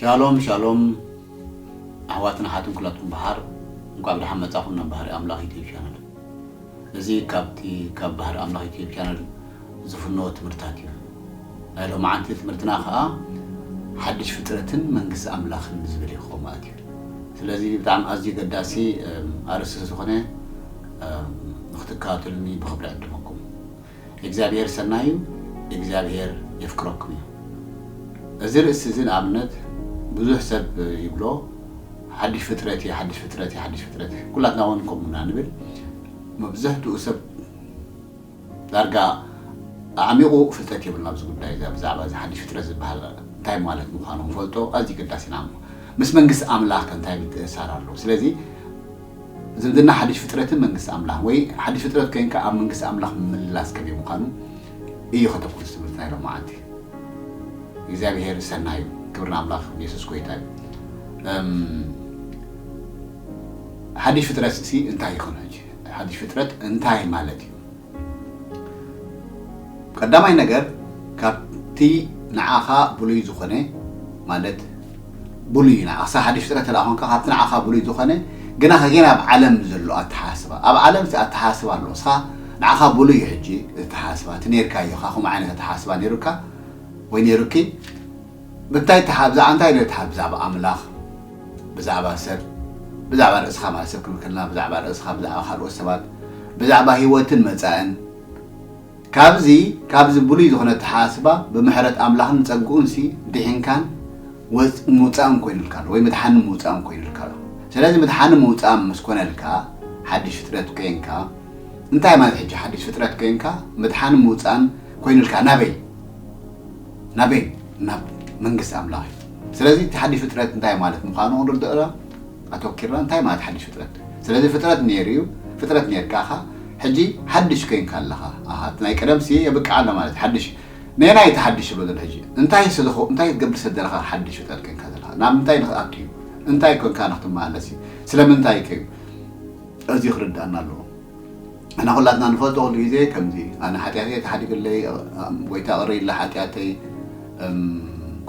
ሻሎም ሻሎም ኣሕዋትን ኣሓትን ኩላትኩም በሓር እንኳዕ ብደሓን መጻኹም ናብ ባህሪ ኣምላኽ ዩትዩብ ቻነል እዚ ካብቲ ካብ ባህሪ ኣምላኽ ዩትዩብ ቻነል ዝፍኖ ትምህርታት እዩ ናይ ሎመዓንቲ ትምህርትና ከዓ ሓድሽ ፍጥረትን መንግስቲ ኣምላኽን ዝብል ይኸውን ማለት እዩ ስለዚ ብጣዕሚ ኣዝዩ ገዳሲ ኣርእስቲ ዝኾነ ንክትከታተሉኒ ብክብሪ ዕድመኩም እግዚኣብሄር ሰናይ እዩ እግዚኣብሄር የፍቅረኩም እዩ እዚ ርእሲ እዚ ንኣብነት ብዙሕ ሰብ ይብሎ ሓድሽ ፍጥረት እየ ሓድሽ ፍጥረት እየ ሓድሽ ፍጥረት ኩላትና እውን ከምኡ ኢና ንብል መብዛሕትኡ ሰብ ዳርጋ ኣዕሚቑ ፍልጠት የብሉን ኣብዚ ጉዳይ እዚ ብዛዕባ እዚ ሓድሽ ፍጥረት ዝብሃል እንታይ ማለት ምዃኑ ክንፈልጦ ኣዝዩ ኣገዳሲ ኢና እሞ ምስ መንግስቲ ኣምላኽ ከ እንታይ ምትእስሳር ኣለዎ ስለዚ ዝምድና ሓድሽ ፍጥረትን መንግስቲ ኣምላኽን ወይ ሓድሽ ፍጥረት ኮይንካ ኣብ መንግስቲ ኣምላኽ ምምልላስ ከመይ ምዃኑ እዩ ከተኩርስ ትምህርቲ ናይ ሎም መዓልቲ እግዚኣብሄር ሰናይ እዩ ክብሪ ንኣምላኽ ንየሱስ ጎይታ እዩ ሓድሽ ፍጥረት ሲ እንታይ ይኹን ሕጂ ሓድሽ ፍጥረት እንታይ ማለት እዩ? ቀዳማይ ነገር ካብቲ ንዓኻ ብሉይ ዝኾነ ማለት ብሉይ ንዓኻ ክሳብ ሓድሽ ፍጥረት እንተ ኮንካ ካብቲ ንዓኻ ብሉይ ዝኾነ ግና ከጌና ኣብ ዓለም ዘሎ ኣተሓሳስባ ኣብ ዓለም እቲ ኣተሓሳስባ ኣሎ እስኻ ንዓኻ ብሉይ እዩ ሕጂ እቲ ኣተሓሳስባ እቲ ነርካዮ ኢኻ ከምኡ ዓይነት ኣተሓሳስባ ነሩካ ወይ ነሩኪ ብታይ ትሓብዛ ኣንታይ ዶ ትሓብዛ ብ ኣምላኽ ብዛዕባ ሰብ ብዛዕባ ርእስኻ ማለት ሰብ ክንብል ከለና ብዛዕባ ርእስኻ ብዛዕባ ካልኦት ሰባት ብዛዕባ ሂወትን መጻእን ካብዚ ካብዚ ብሉይ ዝኾነ ኣተሓሳስባ ብምሕረት ኣምላኽን ጸግኡን ሲ ዲሒንካን ወጽ ምውጻእን ኮይኑልካ ኣሎ ወይ ምድሓንን ምውጻእን ኮይኑልካ ኣሎ ስለዚ ምድሓንን ምውጻእን ምስ ኮነልካ ሓድሽ ፍጥረት ኮንካ እንታይ ማለት ሕጂ ሓድሽ ፍጥረት ኮንካ ምድሓንን ምውጻእን ኮይኑልካ ናበይ ናበይ ናብ መንግስቲ ኣምላኽ እዩ ስለዚ እቲ ሓድሽ ፍጥረት እንታይ ማለት ምዃኑ ክንርድኦና ኣተኪርና እንታይ ማለት ሓድሽ ፍጥረት ስለዚ ፍጥረት ነይሩ እዩ ፍጥረት ነርካ ኢኻ ሕጂ ሓድሽ ኮይንካ ኣለኻ ኣሃ እቲ ናይ ቀደም ሲ የብቅዕ ኣሎ ማለት ሓድሽ ነናይ እቲ ሓድሽ ዝብሎ ዘሎ ሕጂ እንታይ ስለኹ እንታይ ክትገብር ስለ ዘለኻ ሓድሽ ፍጥረት ኮይንካ ዘለኻ ናብ ምንታይ ንክኣቱ እዩ እንታይ ኮንካ ንክትመላለስ እዩ ስለምንታይ ከዩ እዚ ክርዳእና ኣለዎ እና ኩላትና ንፈልጦ ኩሉ ግዜ ከምዚ ኣነ ሓጢኣተይ ተሓዲግለይ ጎይታ ቅርይለ ሓጢኣተይ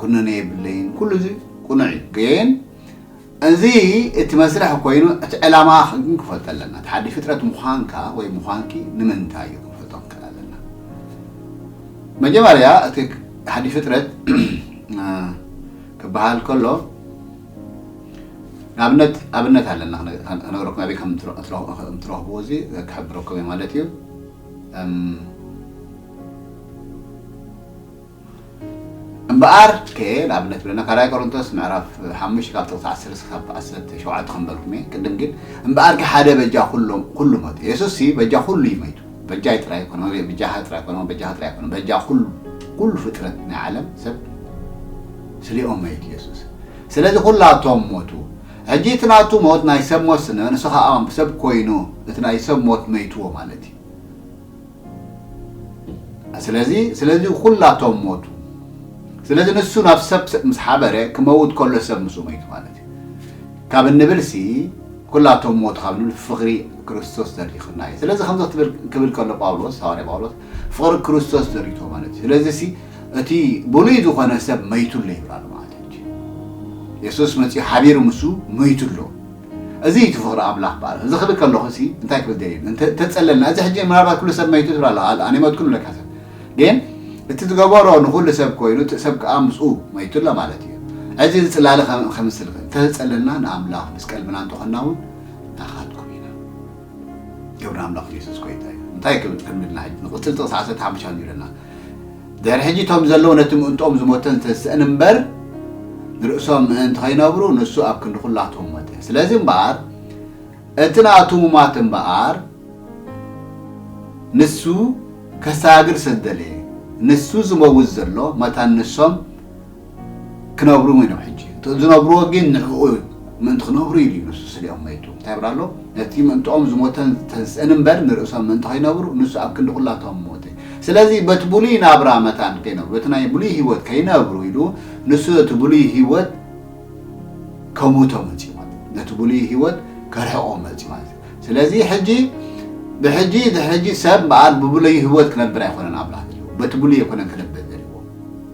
ኩነኔ የብለይን ኩሉ እዚ ቁኑዕ እዩ ግን እዚ እቲ መስርሕ ኮይኑ እቲ ዕላማ ግን ክፈልጦ ኣለና ተሓዲ ፍጥረት ምዃንካ ወይ ምዃንኪ ንምንታይ እዩ ክንፈልጦ ክንክእል ኣለና መጀመርያ እቲ ሓዲ ፍጥረት ክበሃል ከሎ ንኣብነት ኣብነት ኣለና ክነግረኩም ኣበይ ከም እትረኽብዎ እዚ ክሕብረኩም እየ ማለት እዩ እምበኣር ከ ንኣብነት ብለና ካልኣይ ቆሮንቶስ ምዕራፍ ሓሙሽተ ካብ ጥቕሲ ዓሰርተ ክሳብ ዓሰርተ ሸውዓተ ክንበልኩም እየ ቅድም ግን እምበኣር ከ ሓደ በጃ ኩሉ ሞት የሱስ ሲ በጃ ኩሉ እዩ መይቱ በጃይ ጥራይ ኮነ በጃኻ ጥራይ ኮነ በጃኻ ጥራይ ኮነ በጃ ኩሉ ኩሉ ፍጥረት ናይ ዓለም ሰብ ስሌኦም መይት የሱስ ስለዚ ኩላቶም ሞቱ ሕጂ እቲ ናቱ ሞት ናይ ሰብ ሞት ስነ ንሱ ከኣ ሰብ ኮይኑ እቲ ናይ ሰብ ሞት መይትዎ ማለት እዩ ስለዚ ስለዚ ኩላቶም ሞቱ ስለዚ ንሱ ናብ ሰብ ምስ ሓበረ ክመውት ከሎ ሰብ ምስኡ መይቱ ማለት እዩ ካብ እንብልሲ ኩላቶም ሞቱ ካብ ንብል ፍቕሪ ክርስቶስ ዘሪኽና እዩ ስለዚ ከምዚ ክትብል ክብል ከሎ ጳውሎስ ሃዋርያ ጳውሎስ ፍቕሪ ክርስቶስ ዘሪቶ ማለት እዩ ስለዚሲ እቲ ብሉይ ዝኾነ ሰብ መይቱ ኣሎ ይብላሉ ማለት ሕጂ የሱስ መጺኡ ሓቢሩ ምሱ መይቱ ኣሎ እዚ እቲ ፍቕሪ ኣምላኽ በኣልና እዚ ክብል ከለኹሲ እንታይ ክብል ደልየ እንተ ተጸለልና እዚ ሕጂ ምናልባት ኩሉ ሰብ መይቱ ትብል ኣሎ ኣል ኣነ መትኩን ብለካ ሰብ ግን እቲ ዝገበሮ ንኹሉ ሰብ ኮይኑ እቲ ሰብ ከኣ ምስኡ መይቱ ኣሎ ማለት እዩ እዚ ዝጽላለ ከምስል እንተ ተጸለልና ንኣምላኽ ምስ ቀልብና እንተኾንና እውን ናኻትኩም ኢና ገብረ ኣምላኽ የሱስ ጎይታ እዩ እንታይ ክብል ቅድሚ ኢልና ሕጂ ንቕጽል ጥቕሲ ዓሰርተ ሓሙሽተ ሻን ይብለና ድሕሪ ሕጂ እቶም ዘለዉ ነቲ ምእንትኦም ዝሞተን ዝተስእን እምበር ንርእሶም ምእንቲ ኸይነብሩ ንሱ ኣብ ክንዲ ዅላቶም ሞተ ስለዚ እምበኣር እቲ ናቱ ምሟት እምበኣር ንሱ ከሳግር ስለ ዝደለየ ንሱ ዝመውት ዘሎ መታን ንሶም ክነብሩ እውን እዮም ሕጂ እቲ ዝነብርዎ ግን ንዕኡ ምእንቲ ክነብሩ ኢሉ እዩ ንሱ ስሊኦም መይቱ እንታይ ይብል ኣሎ ነቲ ምእንትኦም ዝሞተን ዝተንስእን እምበር ንርእሶም ምእንቲ ከይነብሩ ንሱ ኣብ ክንዲ ኩላቶም ሞተ ስለዚ በቲ ብሉይ ናብራ መታን ከይነብሩ በቲ ናይ ብሉይ ህይወት ከይነብሩ ኢሉ ንሱ ነቲ ብሉይ ህይወት ከሙቶ መጽዩ ማለት ነቲ ብሉይ ህይወት ከርሕቆ መጽዩ ማለት ስለዚ ሕጂ ብሕጂ ድሕጂ ሰብ በኣል ብብሉይ ህይወት ክነብር ኣይኮነን ኣምላኽ ዘለዎ በቲ ብሉይ ኣይኮነን ክነብር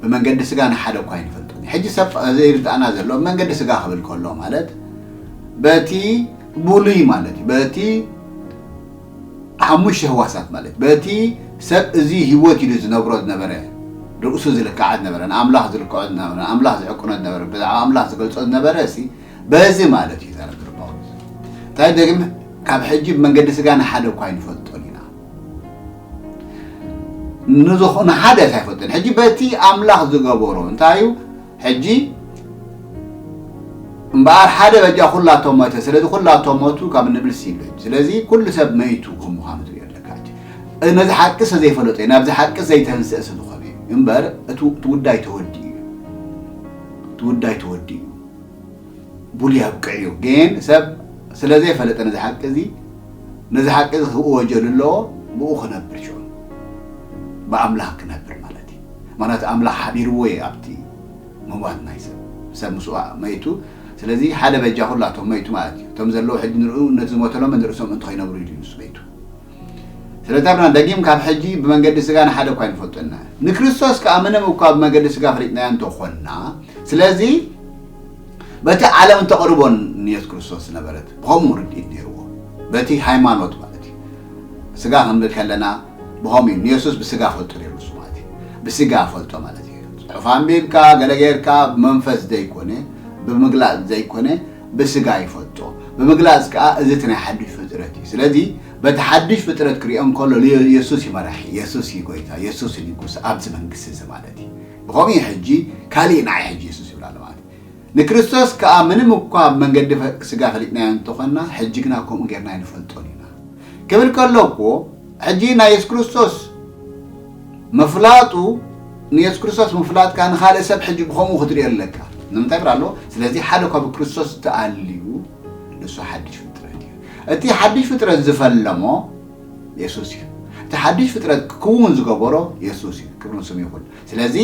ብመንገዲ ስጋ ንሓደ እኳ ኣይንፈልጥን እዩ። ሕጂ ሰብ ዘይርድኣና ዘሎ ብመንገዲ ስጋ ክብል ከሎ ማለት በቲ ብሉይ ማለት እዩ በቲ ሓሙሽተ ህዋሳት ማለት በቲ ሰብ እዚ ህይወት ኢሉ ዝነብሮ ዝነበረ ርእሱ ዝልክዓ ዝነበረ ንኣምላኽ ዝልክዖ ዝነበረ ንኣምላኽ ዝዕቅኖ ዝነበረ ብዛዕባ ኣምላኽ ዝገልጾ ዝነበረ እሲ በዚ ማለት እዩ ተረድር ጳውሎስ እንታይ ደግም ካብ ሕጂ ብመንገዲ ስጋ ንሓደ እኳ ኣይንፈልጦን ኢና ንሓደስ ኣይፈልጥን ሕጂ በቲ ኣምላኽ ዝገበሮ እንታይ እዩ ሕጂ እምበኣር ሓደ በጃ ኩላቶም መተ ስለዚ ኩላቶም መቱ ካብ ንብልሲ ይብለ ስለዚ ኩሉ ሰብ መይቱ ከም ምዃኑ ትሪኦ ኣለካ ነዚ ሓቂ ሰ ዘይፈለጦ እዩ ናብዚ ሓቂ ዘይተንስአ ስለ ዝኾነ እዩ እምበር እቲ ጉዳይ ተወዲኡ እዩ እቲ ጉዳይ ተወዲኡ ቡሉ ያብቅዕ እዩ ግን ሰብ ስለ ዘይፈለጠ ነዚ ሓቂ እዚ ነዚ ሓቂ እዚ ክወጀሉ ኣለዎ ብኡ ክነብር ሽዑ ብኣምላኽ ክነብር ማለት እዩ ምክንያቱ ኣምላኽ ሓቢርዎ እዩ ኣብቲ ምዋት ናይ ሰብ ሰብ ምስኡ መይቱ ስለዚ ሓደ በጃ ኩላቶም መይቱ ማለት እዩ እቶም ዘለዉ ሕጂ ንርኡ ነቲ ዝሞተሎም ንርእሶም እንተ ከይነብሩ ኢሉ እዩ ንሱ መይቱ ስለተርና ደጊም ካብ ሕጂ ብመንገዲ ስጋ ንሓደ እኳ ኣይንፈልጦን ኢና። ንክርስቶስ ከኣ ምንም እኳ ብመገዲ ስጋ ፈሊጥናዮ እንተ ኾንና፣ ስለዚ በቲ ዓለም እተቕርቦ ንየሱስ ክርስቶስ ዝነበረት ብኸምኡ ርድኢት ነይርዎ። በቲ ሃይማኖት ማለት እዩ። ስጋ ክንብል ከለና ብኸምኡ እዩ። ንየሱስ ብስጋ እፈልጦ ነይሩ ንሱ ማለት እዩ። ብስጋ እፈልጦ ማለት እዩ። ጽሑፍ ኣንቢብካ ገለ ጌርካ ብመንፈስ ዘይኮነ፣ ብምግላጽ ዘይኮነ፣ ብስጋ ይፈልጦ ብምግላጽ ከኣ እዚ እቲ ናይ ሓዱሽ ፍጥረት እዩ ስለዚ በቲ ሓዱሽ ፍጥረት ክሪኦ እንከሎ ልዮ የሱስ እዩ መራሒ የሱስ እዩ ጎይታ የሱስ እዩ ንጉስ ኣብዚ መንግስቲ እዚ ማለት እዩ ብኸምኡ እዩ ሕጂ ካሊእ ንዓይ ሕጂ የሱስ ይብል ኣሎ ማለት እዩ ንክርስቶስ ከኣ ምንም እኳ ኣብ መንገዲ ስጋ ፈሊጥናዮ እንተኾንና ሕጂ ግና ከምኡ ጌርና ኣይንፈልጦን ኢና ክብል ከሎ እኮ ሕጂ ናይ የሱስ ክርስቶስ ምፍላጡ ንየሱስ ክርስቶስ ምፍላጥካ ንኻልእ ሰብ ሕጂ ብኸምኡ ክትርእዮ ኣለካ። ንምንታይ ብራሎ ስለዚ ሓደ እኳ ብክርስቶስ ተኣልዩ ንሱ ሓድሽ ፍጥረት እዩ። እቲ ሓድሽ ፍጥረት ዝፈለሞ የሱስ እዩ። እቲ ሓድሽ ፍጥረት ክክውን ዝገበሮ የሱስ እዩ። ክብሪ ንስሙ ይኹን። ስለዚ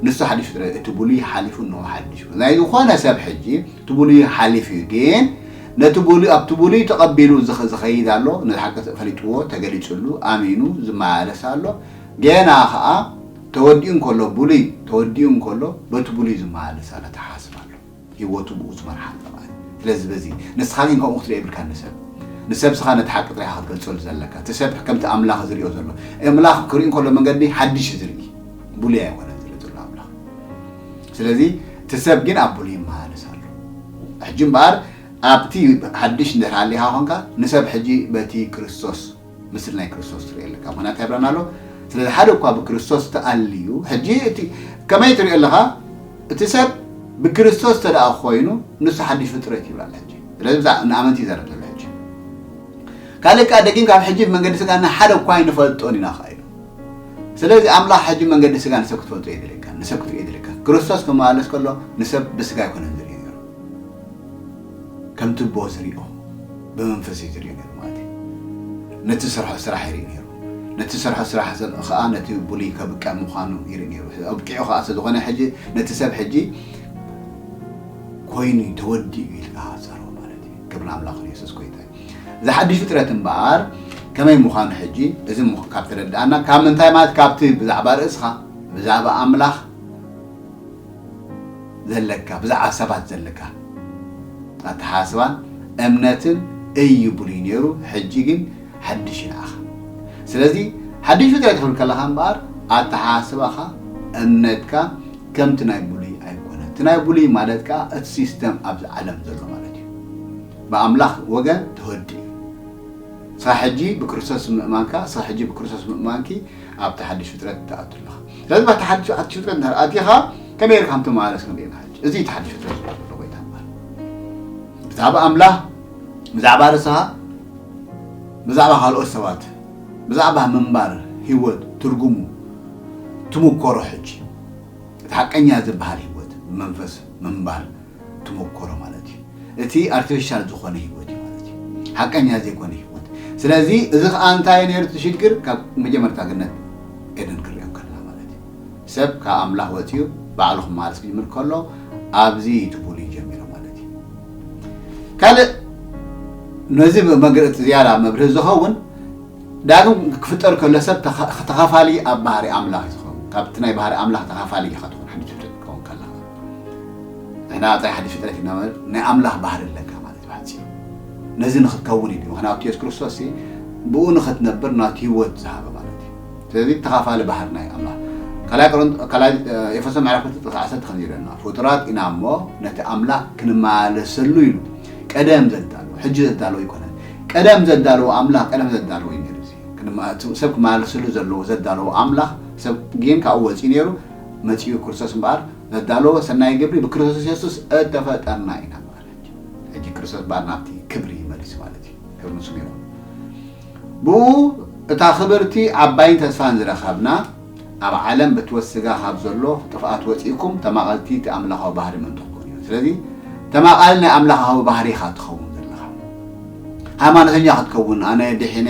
ንሱ ሓድሽ ፍጥረት እቲ ብሉይ ሓሊፉ እንሆ ሓድሽ ናይ ዝኾነ ሰብ ሕጂ እቲ ብሉይ ሓሊፉ እዩ ግን ነቲ ብሉይ ኣብቲ ብሉይ ተቐቢሉ ዝኸይድ ኣሎ፣ ነቲ ሓቂ ፈሊጥዎ ተገሊጽሉ ኣሚኑ ዝመላለስ ኣሎ፣ ጌና ከኣ ተወዲኡ እንከሎ ብሉይ ተወዲኡ እንከሎ በቲ ብሉይ ዝመላለስ ኣሎ፣ ተሓሳስብ ኣሎ፣ ሂወቱ ብኡ ዝመርሓ ኣሎ ማለት እዩ። ስለዚ በዚ ንስኻ ግን ከምኡ ክትሪኦ የብልካን ንሰብ ንሰብ ስኻ ነቲ ሓቂ ጥራይ ኢኻ ክትገልጸሉ ዘለካ፣ እቲ ሰብ ከምቲ ኣምላኽ ዝሪኦ ዘሎ፣ ኤምላኽ ክሪኡ እንከሎ መንገዲ ሓድሽ እዩ ዝሪኢ ብሉይ ኣይኮነን ዝሪኢ ዘሎ ኣምላኽ። ስለዚ እቲ ሰብ ግን ኣቡሉ ይመላለስ ኣሎ ሕጂ እምበኣር ኣብቲ ሓድሽ እንድሕር ሃሊኻ ኮንካ ንሰብ ሕጂ በቲ ክርስቶስ ምስሊ ናይ ክርስቶስ ትሪኦ ኣለካ ምክንያት እንታይ ይብለና ኣሎ ስለዚ ሓደ እኳ ብክርስቶስ ተኣልዩ ሕጂ እቲ ከመይ ትሪኦ ኣለኻ እቲ ሰብ ብክርስቶስ እንተ ደኣ ኮይኑ ንሱ ሓድሽ ፍጥረት ይብላ ኣሎ ሕጂ ስለዚ ብዛዕባ ንኣመንቲ ይዘረብ ዘሎ ሕጂ ካልእ ከዓ ደጊም ካብ ሕጂ ብመንገዲ ስጋና ሓደ እኳ ኣይንፈልጦን ኢና ከዓ ኢሉ ስለዚ ኣምላኽ ሕጂ መንገዲ ስጋ ንሰብ ክትፈልጦ የድልየካ፣ ንሰብ ክትሪኦ የድልየካ። ክርስቶስ ክመላለስ ከሎ ንሰብ ብስጋ ኣይኮነን ዝርእዮ ነይሩ፣ ከም ትቦ ዝርእዮ ብመንፈስ እዩ ዝርእዮ ነይሩ ማለት እዩ። ነቲ ዝሰርሖ ስራሕ ይርኢ ነይሩ፣ ነቲ ዝሰርሖ ስራሕ ከኣ ነቲ ብሉይ ከብቅዕ ምዃኑ ይርኢ ነይሩ፣ ኣብቂዑ ከኣ ስለ ዝኾነ ሕጂ ነቲ ሰብ ሕጂ ኮይኑ ተወዲኡ ኢልካ ጸርዎ ማለት እዩ። ክብሪ ንኣምላኽ ንየሱስ ጎይታ እዩ። እዚ ሓድሽ ፍጥረት እምበኣር ከመይ ምዃኑ ሕጂ እዚ ካብ ተረድኣና ካብ ምንታይ ማለት ካብቲ ብዛዕባ ርእስኻ ብዛዕባ ኣምላኽ ዘለካ ብዛዕባ ሰባት ዘለካ ኣተሓሳስባን እምነትን እዩ ብሉይ ነይሩ ሕጂ ግን ሓድሽ ይንዓኻ ስለዚ ሓድሽ ፍጥረት ክትብል ከለኻ እምበኣር ኣተሓሳስባኻ እምነትካ ከምቲ ናይ ብሉይ ኣይኮነ እቲ ናይ ብሉይ ማለት ከዓ እቲ ሲስተም ኣብዚ ዓለም ዘሎ ማለት እዩ ብኣምላኽ ወገን ተወዲኡ እዩ። ስራሕ ሕጂ ብክርስቶስ ምእማንካ፣ ስራሕ ሕጂ ብክርስቶስ ምእማንኪ ኣብቲ ሓድሽ ፍጥረት ትኣቱ ኣለኻ። ስለዚ ኣብቲ ሓድሽ ፍጥረት እንድሕር ኣቲኻ ከመይ ጌርካ ከም ትመላለስ ከም ርኤና ሕጂ። እዚ እዩ እቲ ሓድሽ ፍጥረት ዝብሎ ዘሎ ጎይታ ማለት። ብዛዕባ ኣምላኽ፣ ብዛዕባ ርእስኻ፣ ብዛዕባ ካልኦት ሰባት፣ ብዛዕባ ምንባር ህይወት ትርጉሙ ትምኮሮ ሕጂ። እቲ ሓቀኛ ዝብሃል ህይወት ብመንፈስ ምንባር። ትሞኮሮ ማለት እዩ እቲ ኣርቲፊሻል ዝኾነ ህይወት እዩ ማለት እዩ ሓቀኛ ዘይኮነ ህይወት ስለዚ እዚ ከዓ እንታይ ነይሩ እቲ ሽግር ካብ መጀመርታ ግነት ኤደን ክሪኦ ከለና ማለት እዩ ሰብ ካብ ኣምላኽ ወፂኡ ባዕሉ ክመሃርስ ክጅምር ከሎ ኣብዚ ትቡሉ ይጀሚሩ ማለት እዩ ካልእ ነዚ መግረፂ ዝያዳ መብርህ ዝኸውን ዳግም ክፍጠር ከሎ ሰብ ተኸፋሊ ኣብ ባህሪ ኣምላኽ እዩ ዝኸውን ካብቲ ናይ ባህሪ ኣምላኽ ተኸፋሊ ኢኻ ትኾን ሓንቲ ትፍጥር ክትከውን ከለኻ ንሕና ጥራይ ሓድሽ ፍጥረት ኢና ማለት ናይ ኣምላኽ ባህሪ ኣለካ ማለት እዩ ብሓጺሩ ነዚ ንኽትከውን እዩ ምክንያቱ የሱስ ክርስቶስ ብኡ ንኽትነብር ናቱ ህይወት ዝሃበ ማለት እዩ ስለዚ ተኻፋሊ ባህሪ ናይ ኣምላኽ ካልኣይ ኤፌሶ ምዕራፍ ክልተ ጥቕሲ ዓሰርተ ከምዚ ይብለና ፍጡራት ኢና እሞ ነቲ ኣምላኽ ክንመላለሰሉ ኢሉ ቀደም ዘዳለዎ ሕጂ ዘዳለዎ ኣይኮነን ቀደም ዘዳለዎ ኣምላኽ ቀደም ዘዳለዎ እዩ ነይሩ እዚ ሰብ ክመላለሰሉ ዘለዎ ዘዳለዎ ኣምላኽ ሰብ ግን ካብኡ ወፂኡ ነይሩ መጺኡ ክርስቶስ እምበኣር ዘዳለዎ ሰናይ ግብሪ ብክርስቶስ የሱስ እተፈጠርና ኢና ማለት እዩ። ሕጂ ክርስቶስ እምበኣር ናብቲ ክብሪ ይመልስ ማለት እዩ። ክብሪ ንስሙ ይኹን። ብእኡ እታ ክብርቲ ዓባይን ተስፋን ዝረኸብና ኣብ ዓለም ብትወት ስጋ ካብ ዘሎ ጥፍኣት ወጺእኩም ተማቐልቲ እቲ ኣምላኻዊ ባህሪ ምእንቲ ክትኮኑ እዩ። ስለዚ ተማቓሊ ናይ ኣምላኻዊ ባህሪ ኢኻ ትኸውን ዘለኻ። ሃይማኖተኛ ክትከውን ኣነ ድሒነ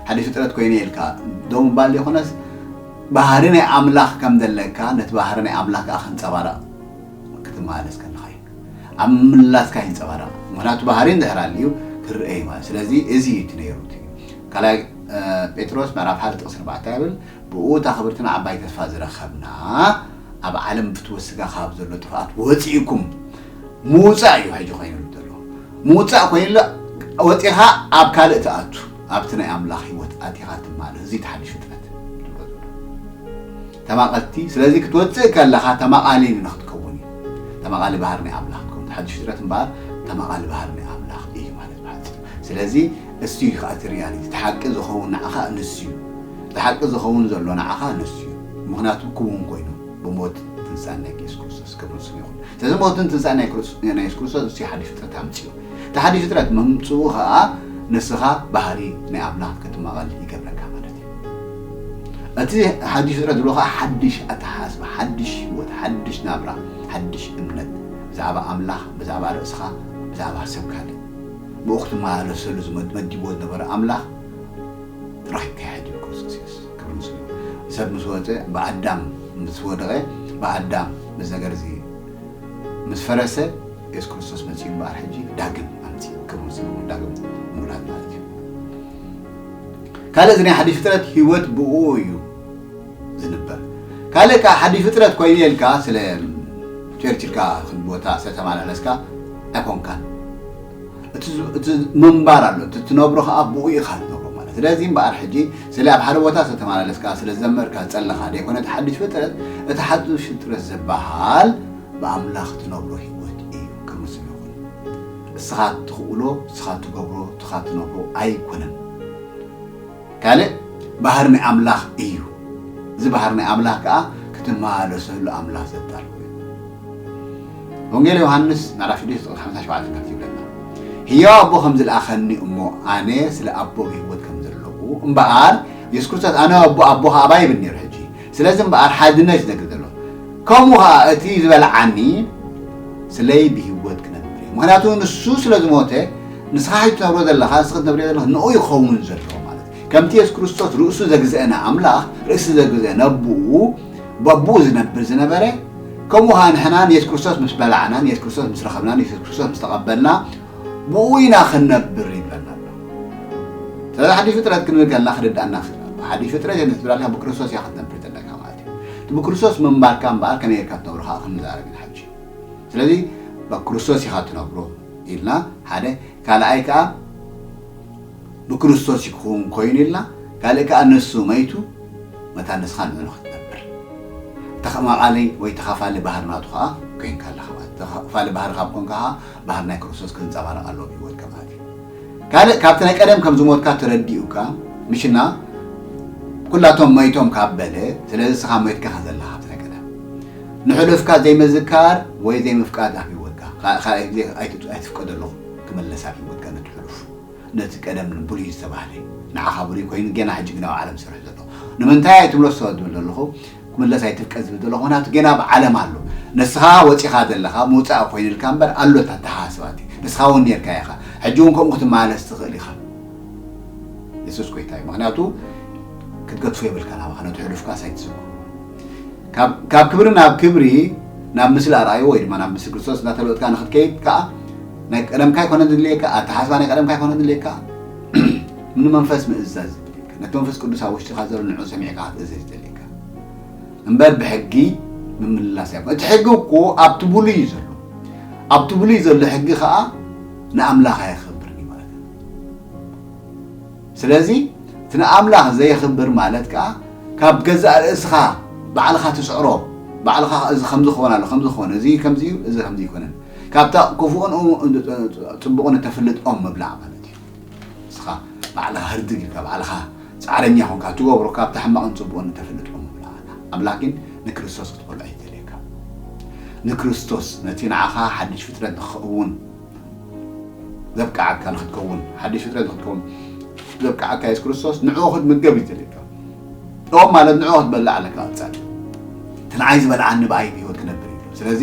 ሓዲሽ ፍጥረት ኮይነ ኢልካ ደው ምባል ዘይኮነስ ባህሪ ናይ ኣምላኽ ከም ዘለካ፣ ነቲ ባህሪ ናይ ኣምላኽ ከኣ ከንጸባርቕ ክትመላለስ ከለኻ እዩ። ኣብ ምምላስካ ይንጸባረቕ። ምኽንያቱ ባህሪ እንድሕር ኣልዩ ክርኣ እዩ ማለት እዩ። ስለዚ እዚ እዩ እቲ ነይሩ እቲ ካልኣይ ጴጥሮስ ምዕራፍ ሓደ ጥቕሲ ኣርባዕተ እንታይ ይብል? ብእኡ እታ ክብርትን ዓባይ ተስፋ ዝረኸብና ኣብ ዓለም ብፍትወት ስጋ ካብ ዘሎ ጥፍኣት ወጺእኩም ምውፃእ እዩ ሕጂ ኮይኑሉ ዘሎ ምውፃእ ኮይኑሉ ወፂኻ ኣብ ካልእ ትኣቱ ኣብቲ ናይ ኣምላኽ ህይወት ኣቲኻ ትማልእ እዚ ተሓድሽ ፍጥረት ተማቐልቲ ስለዚ ክትወፅእ ከለኻ ተማቓሊ ንክትከውን እዩ ተማቓሊ ባህር ናይ ኣምላኽ ትከውን ተሓድሽ ፍጥረት እምበኣር ተማቓሊ ባህር ናይ ኣምላኽ እዩ ማለት ብሓፂር ስለዚ እሱ እዩ ከዓ እቲ ሪያሊቲ እቲ ሓቂ ዝኸውን ንዓኻ ንሱ እዩ እቲ ሓቂ ዝኸውን ዘሎ ንዓኻ ንሱ እዩ ምክንያቱ ክውን ኮይኑ ብሞት ትንሳኤን ናይ ኢየሱስ ክርስቶስ ክብርን ስምን ይኹን። ስለዚ ሞትን ትንሳኤን ናይ ኢየሱስ ክርስቶስ ንሱ እዩ ሓድሽ ፍጥረት ኣምጺኡ። እቲ ሓድሽ ፍጥረት ምምጽኡ ከኣ ንስኻ ባህሪ ናይ ኣምላኽ ክትማቐል ይገብረካ ማለት እዩ። እቲ ሓድሽ ፍጥረት ዝብሎ ከኣ ሓድሽ ኣተሓሳስባ፣ ሓድሽ ህይወት፣ ሓድሽ ናብራ፣ ሓድሽ እምነት ብዛዕባ ኣምላኽ፣ ብዛዕባ ርእስኻ፣ ብዛዕባ ሰብ ካልእ ብኡ ክትመላለሰሉ መዲብዎ ዝነበረ ኣምላኽ ጥራይ ከይ ሕድር ክርስቶስ ኢየሱስ። ክብል ምስሉ እዩ። ሰብ ምስ ወጸ ብኣዳም ምስ ወደቐ ብኣዳም እዚ ነገር እዚ ምስ ፈረሰ የሱስ ክርስቶስ መጺኡ እምበኣር ሕጂ ዳግም ኣምጺ ክብል ምስሉ እዩ። ዳግም ምውላድ ማለት እዩ። ካልእ እዚ ናይ ሓድሽ ፍጥረት ህይወት ብእኡ እዩ ዝንበር። ካልእ ከኣ ሓድሽ ፍጥረት ኮይኑ እየ ኢልካ ስለ ቸርች ኢልካ ክንዲ ቦታ ስለ ተመላለስካ ኣይኮንካን። እቲ ምንባር ኣሎ እቲ ትነብሮ ከዓ ብኡ ኢኻ ትነብሮ ማለት ስለዚ እምበኣር ሕጂ ስለ ኣብ ሓደ ቦታ ስለተመላለስካ ስለዝዘመርካ ዝፀለኻ ዘይኮነ እቲ ሓዱሽ ፍጥረት እቲ ሓዱሽ ፍጥረት ዝበሃል ብኣምላኽ ትነብሮ ህይወት እዩ ቅዱስ ይኹን እስኻ ትኽእሎ እስኻ ትገብሮ እስኻ ትነብሮ ኣይኮነን ካልእ ባህሪ ናይ ኣምላኽ እዩ። እዚ ባህሪ ናይ ኣምላኽ ከኣ ክትመላለሰሉ ኣምላኽ ዘዳለዎ እዩ። ወንጌል ዮሃንስ ምዕራፍ ሽዱሽተ ቁጽሪ ሓምሳን ሸውዓተን ከምዚ ይብለና ህያው ኣቦ ከም ዝልኣኸኒ እሞ ኣነ ስለ ኣቦ ብህይወት ከም ዘለኹ እምበኣር የሱስ ክርስቶስ ኣነ ኣቦ ኣቦ ከኣ ኣባይ ይብል ነይሩ ሕጂ ስለዚ እምበኣር ሓድነት እዩ ዘግልግል ዘሎ። ከምኡ ኸኣ እቲ ዝበልዓኒ ስለይ ብህይወት ክነብር እየ። ምኽንያቱ ንሱ ስለ ዝሞተ ንስኻ ሕጂ ትነብሮ ዘለኻ ንስኺ ትነብርዮ ዘለኺ ንኡ እዩ ክኸውን ዘለዎ ማለት እዩ። ከምቲ የሱስ ክርስቶስ ርእሱ ዘግዝአ ንኣምላኽ ርእሲ ዘግዝአ ነቦኡ በቦኡ ዝነብር ዝነበረ ከምኡ ኸኣ ንሕና ንየሱስ ክርስቶስ ምስ በላዕናን የሱስ ክርስቶስ ምስ ረኸብናን የሱስ ክርስቶስ ምስ ተቐበልና ብኡ ኢና ክንነብር ይብለና ኣሎ እቲ ሓድሽ ፍጥረት ክንብል ከለና ክርድኣና ክእል ኣሎ ሓድሽ ፍጥረት የለ ክትብል ኣለካ ብክርስቶስ እያ ክትነብር ዘለካ ማለት እዩ እቲ ብክርስቶስ ምንባርካ እምበኣር ከመይ ጌርካ ትነብሮ ከዓ ክንዛረብ ኢና ሕጂ ስለዚ ብክርስቶስ ኢኻ ትነብሮ ኢልና ሓደ ካልኣይ ከዓ ብክርስቶስ እዩ ክኽውን ኮይኑ ኢልና ካልእ ከኣ ንሱ መይቱ መታን ንስኻ ንዕኡ ክትነብር እቲ ኸማቓሊ ወይ ተኻፋሊ ባህሪ ናቱ ከኣ ኮይንካ ኣለኻ ማለት እዩ ተኻፋሊ ባህሪ ካብ ኮንካ ከኣ ባህሪ ናይ ክርስቶስ ክንጸባረቕ ኣለዎ ኣብ ህይወትካ ማለት እዩ ካልእ ካብቲ ናይ ቀደም ከም ዝሞትካ ተረዲኡካ ምሽና ኩላቶም መይቶም ካብ በለ ስለዚ ንስኻ መይትካ ከም ዘለኻ ካብቲ ናይ ቀደም ንሕሉፍካ ዘይምዝካር ወይ ዘይምፍቃድ ኣብ ህይወትካ ካልኣይ ግዜ ኣይትፍቀደሉ ክምለስ ኣብ ህይወትካ ነቲ ሕሉፍ ነቲ ቀደም ንብሉይ ዝተባህለ ንዓኻ ብሉይ ኮይኑ ጌና ሕጂ ግን ኣብ ዓለም ዝሰርሕ ዘሎ ንምንታይ ኣይትምለሶ ዝብል ዘለኹ ክምለስ ኣይትፍቀድ ዝብል ዘለኹ ምኽንያቱ ጌና ኣብ ዓለም ኣሎ ንስኻ ወጺኻ ዘለኻ ምውጻእ ኮይንልካ እምበር ኣሎ እቲ ኣተሓሳስባ እቲ ንስኻ እውን ኔርካ ኢኻ ሕጂ እውን ከምኡ ክትመላለስ ትኽእል ኢኻ የሱስ ጎይታ እዩ ምኽንያቱ ክትገድፎ የብልካን ኣባኻ ነቲ ሕሉፍካስ ኣይትዝክሮ ካብ ክብሪ ናብ ክብሪ ናብ ምስሊ ኣርኣዩ ወይ ድማ ናብ ምስሊ ክርስቶስ እናተለወጥካ ንክትከይድ ከዓ ናይ ቀደምካ ኣይኮነን ዝድልየካ ኣተሓስባ ናይ ቀደምካ ኣይኮነን ዝድልየካ ንመንፈስ ምእዛዝ ዝድልየካ ነቲ መንፈስ ቅዱስ ኣብ ውሽጢካ ዘሎ ንዑ ሰሚዕካ ክትእዘዝ ዝደልየካ እምበር ብሕጊ ምምልላስ ኣይኮ እቲ ሕጊ እኮ ኣብቲ ብሉይ እዩ ዘሎ ኣብቲ ብሉይ ዘሎ ሕጊ ከዓ ንኣምላኽ ኣየኽብርን እዩ ማለት እዩ ስለዚ እቲ ንኣምላኽ ዘየኽብር ማለት ከኣ ካብ ገዛእ ርእስኻ ባዕልኻ ትጽዕሮ ባዕልኻ ከኣ እዚ ከምዚ ክኾን ኣለዎ ከምዚ ክኾን እዚ ከምዚ እዩ እዚ ከምዚ ኣይኮነን ካብታ ክፉእን ጽቡቕን እተፍልጥ ኦም ምብላዕ ማለት እዩ ንስኻ ባዕልኻ ህርድግ ኢልካ ባዕልኻ ጻዕረኛ ኮንካ ትገብሮ ካብታ ሕማቕን ጽቡቕን እተፍልጥ ኦም ምብላዕ ኣላ ኣምላኽ ግን ንክርስቶስ ክትበልዖ ይደልየካ ንክርስቶስ ነቲ ንዓኻ ሓድሽ ፍጥረት ንክኸውን ዘብቅዓካ ንክትከውን ሓድሽ ፍጥረት ንክትከውን ዘብቅዓካ የሱስ ክርስቶስ ንዕኡ ክትምገብ እዩ ዝደልየካ ኦም ማለት ንዕኡ ክትበልዕ ኣለካ ኣንጻር እቲ ንዓይ ዝበልዓኒ ብኣይ ብሂወት ክነብር እዩ ስለዚ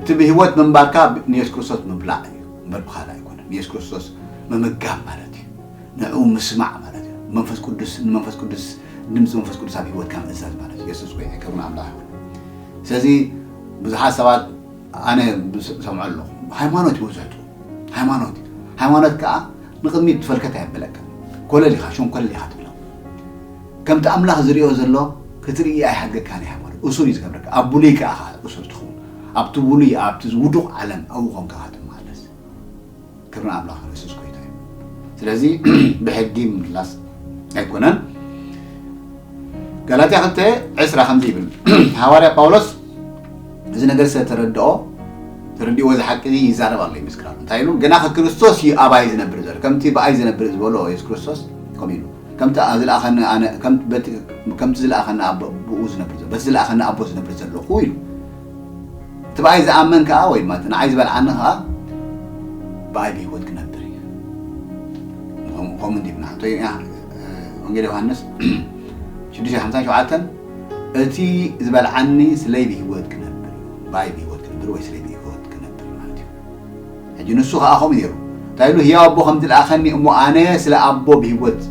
እቲ ብሂወት ምንባርካ ንየሱስ ክርስቶስ ምብላዕ እዩ እምበር ብካልእ ኣይኮነን ንየሱስ ክርስቶስ ምምጋብ ማለት እዩ ንዕኡ ምስማዕ ማለት እዩ መንፈስ ቅዱስ ንመንፈስ ቅዱስ ድምፂ መንፈስ ቅዱስ ኣብ ሂወትካ ምእዛዝ ማለት እዩ የሱስ ጎይታ ክብርን ኣምላኽ ይኹን ስለዚ ብዙሓት ሰባት ኣነ ዝሰምዖ ኣለኹ ሃይማኖት እዩ ወዘቱ ሃይማኖት እዩ ሃይማኖት ከዓ ንቅድሚት ፈልከት ኣየብለካን ኮለል ኢኻ ሸንኮለል ኢኻ ትብሎ ከምቲ ኣምላኽ ዝሪኦ ዘሎ ክትርኢ ኣይሓድገካን እዩ ሃይማኖት እሱር እዩ ዝገብረካ ኣብ ብሉይ ከዓ እሱር ትኸውን ኣብቲ ብሉይ ኣብቲ ውዱቕ ዓለም ኣብኡ ኮንካ ትመሃለስ ክብሪ ንኣምላኽና የሱስ ጎይታ እዩ ስለዚ ብሕጊ ምምላስ ኣይኮነን ጋላትያ ክልተ ዕስራ ከምዚ ይብል ሃዋርያ ጳውሎስ እዚ ነገር ስለ ተረድኦ ተረዲእዎ እዚ ሓቂ እዚ ይዛረብ ኣሎ ይምስክራሉ እንታይ ኢሉ ግና ከክርስቶስ እዩ ኣባይ ዝነብር ዘሎ ከምቲ ብኣይ ዝነብር ዝበሎ የሱስ ክርስቶስ ከምኡ ኢሉ ከምቲ ዝለኣኸኒ ኣነ ከምቲ ዝለኣኸኒ ኣቦ ብኡ ዝነብር ዘሎ በቲ ዝለኣኸኒ ኣቦ ዝነብር ዘለኹ ኢሉ እቲ ብኣይ ዝኣመን ከኣ ወይ ድማ እቲ ንዓይ ዝበልዓኒ ከኣ ብኣይ ብህይወት ክነብር እዩ። ከምኡ እንዲብና እንተ ወንጌል ዮሃንስ ሽዱሽተ ሓምሳን ሸውዓተን እቲ ዝበልዓኒ ስለይ ብህይወት ክነብር እዩ ብኣይ ብህይወት ክነብር ወይ ስለይ ብህይወት ክነብር ማለት እዩ። ሕጂ ንሱ ኸኣ ከምኡ ነይሩ። እንታይ ኢሉ? ህያው ኣቦ ከም ዝልኣኸኒ እሞ ኣነ ስለ ኣቦ ብህይወት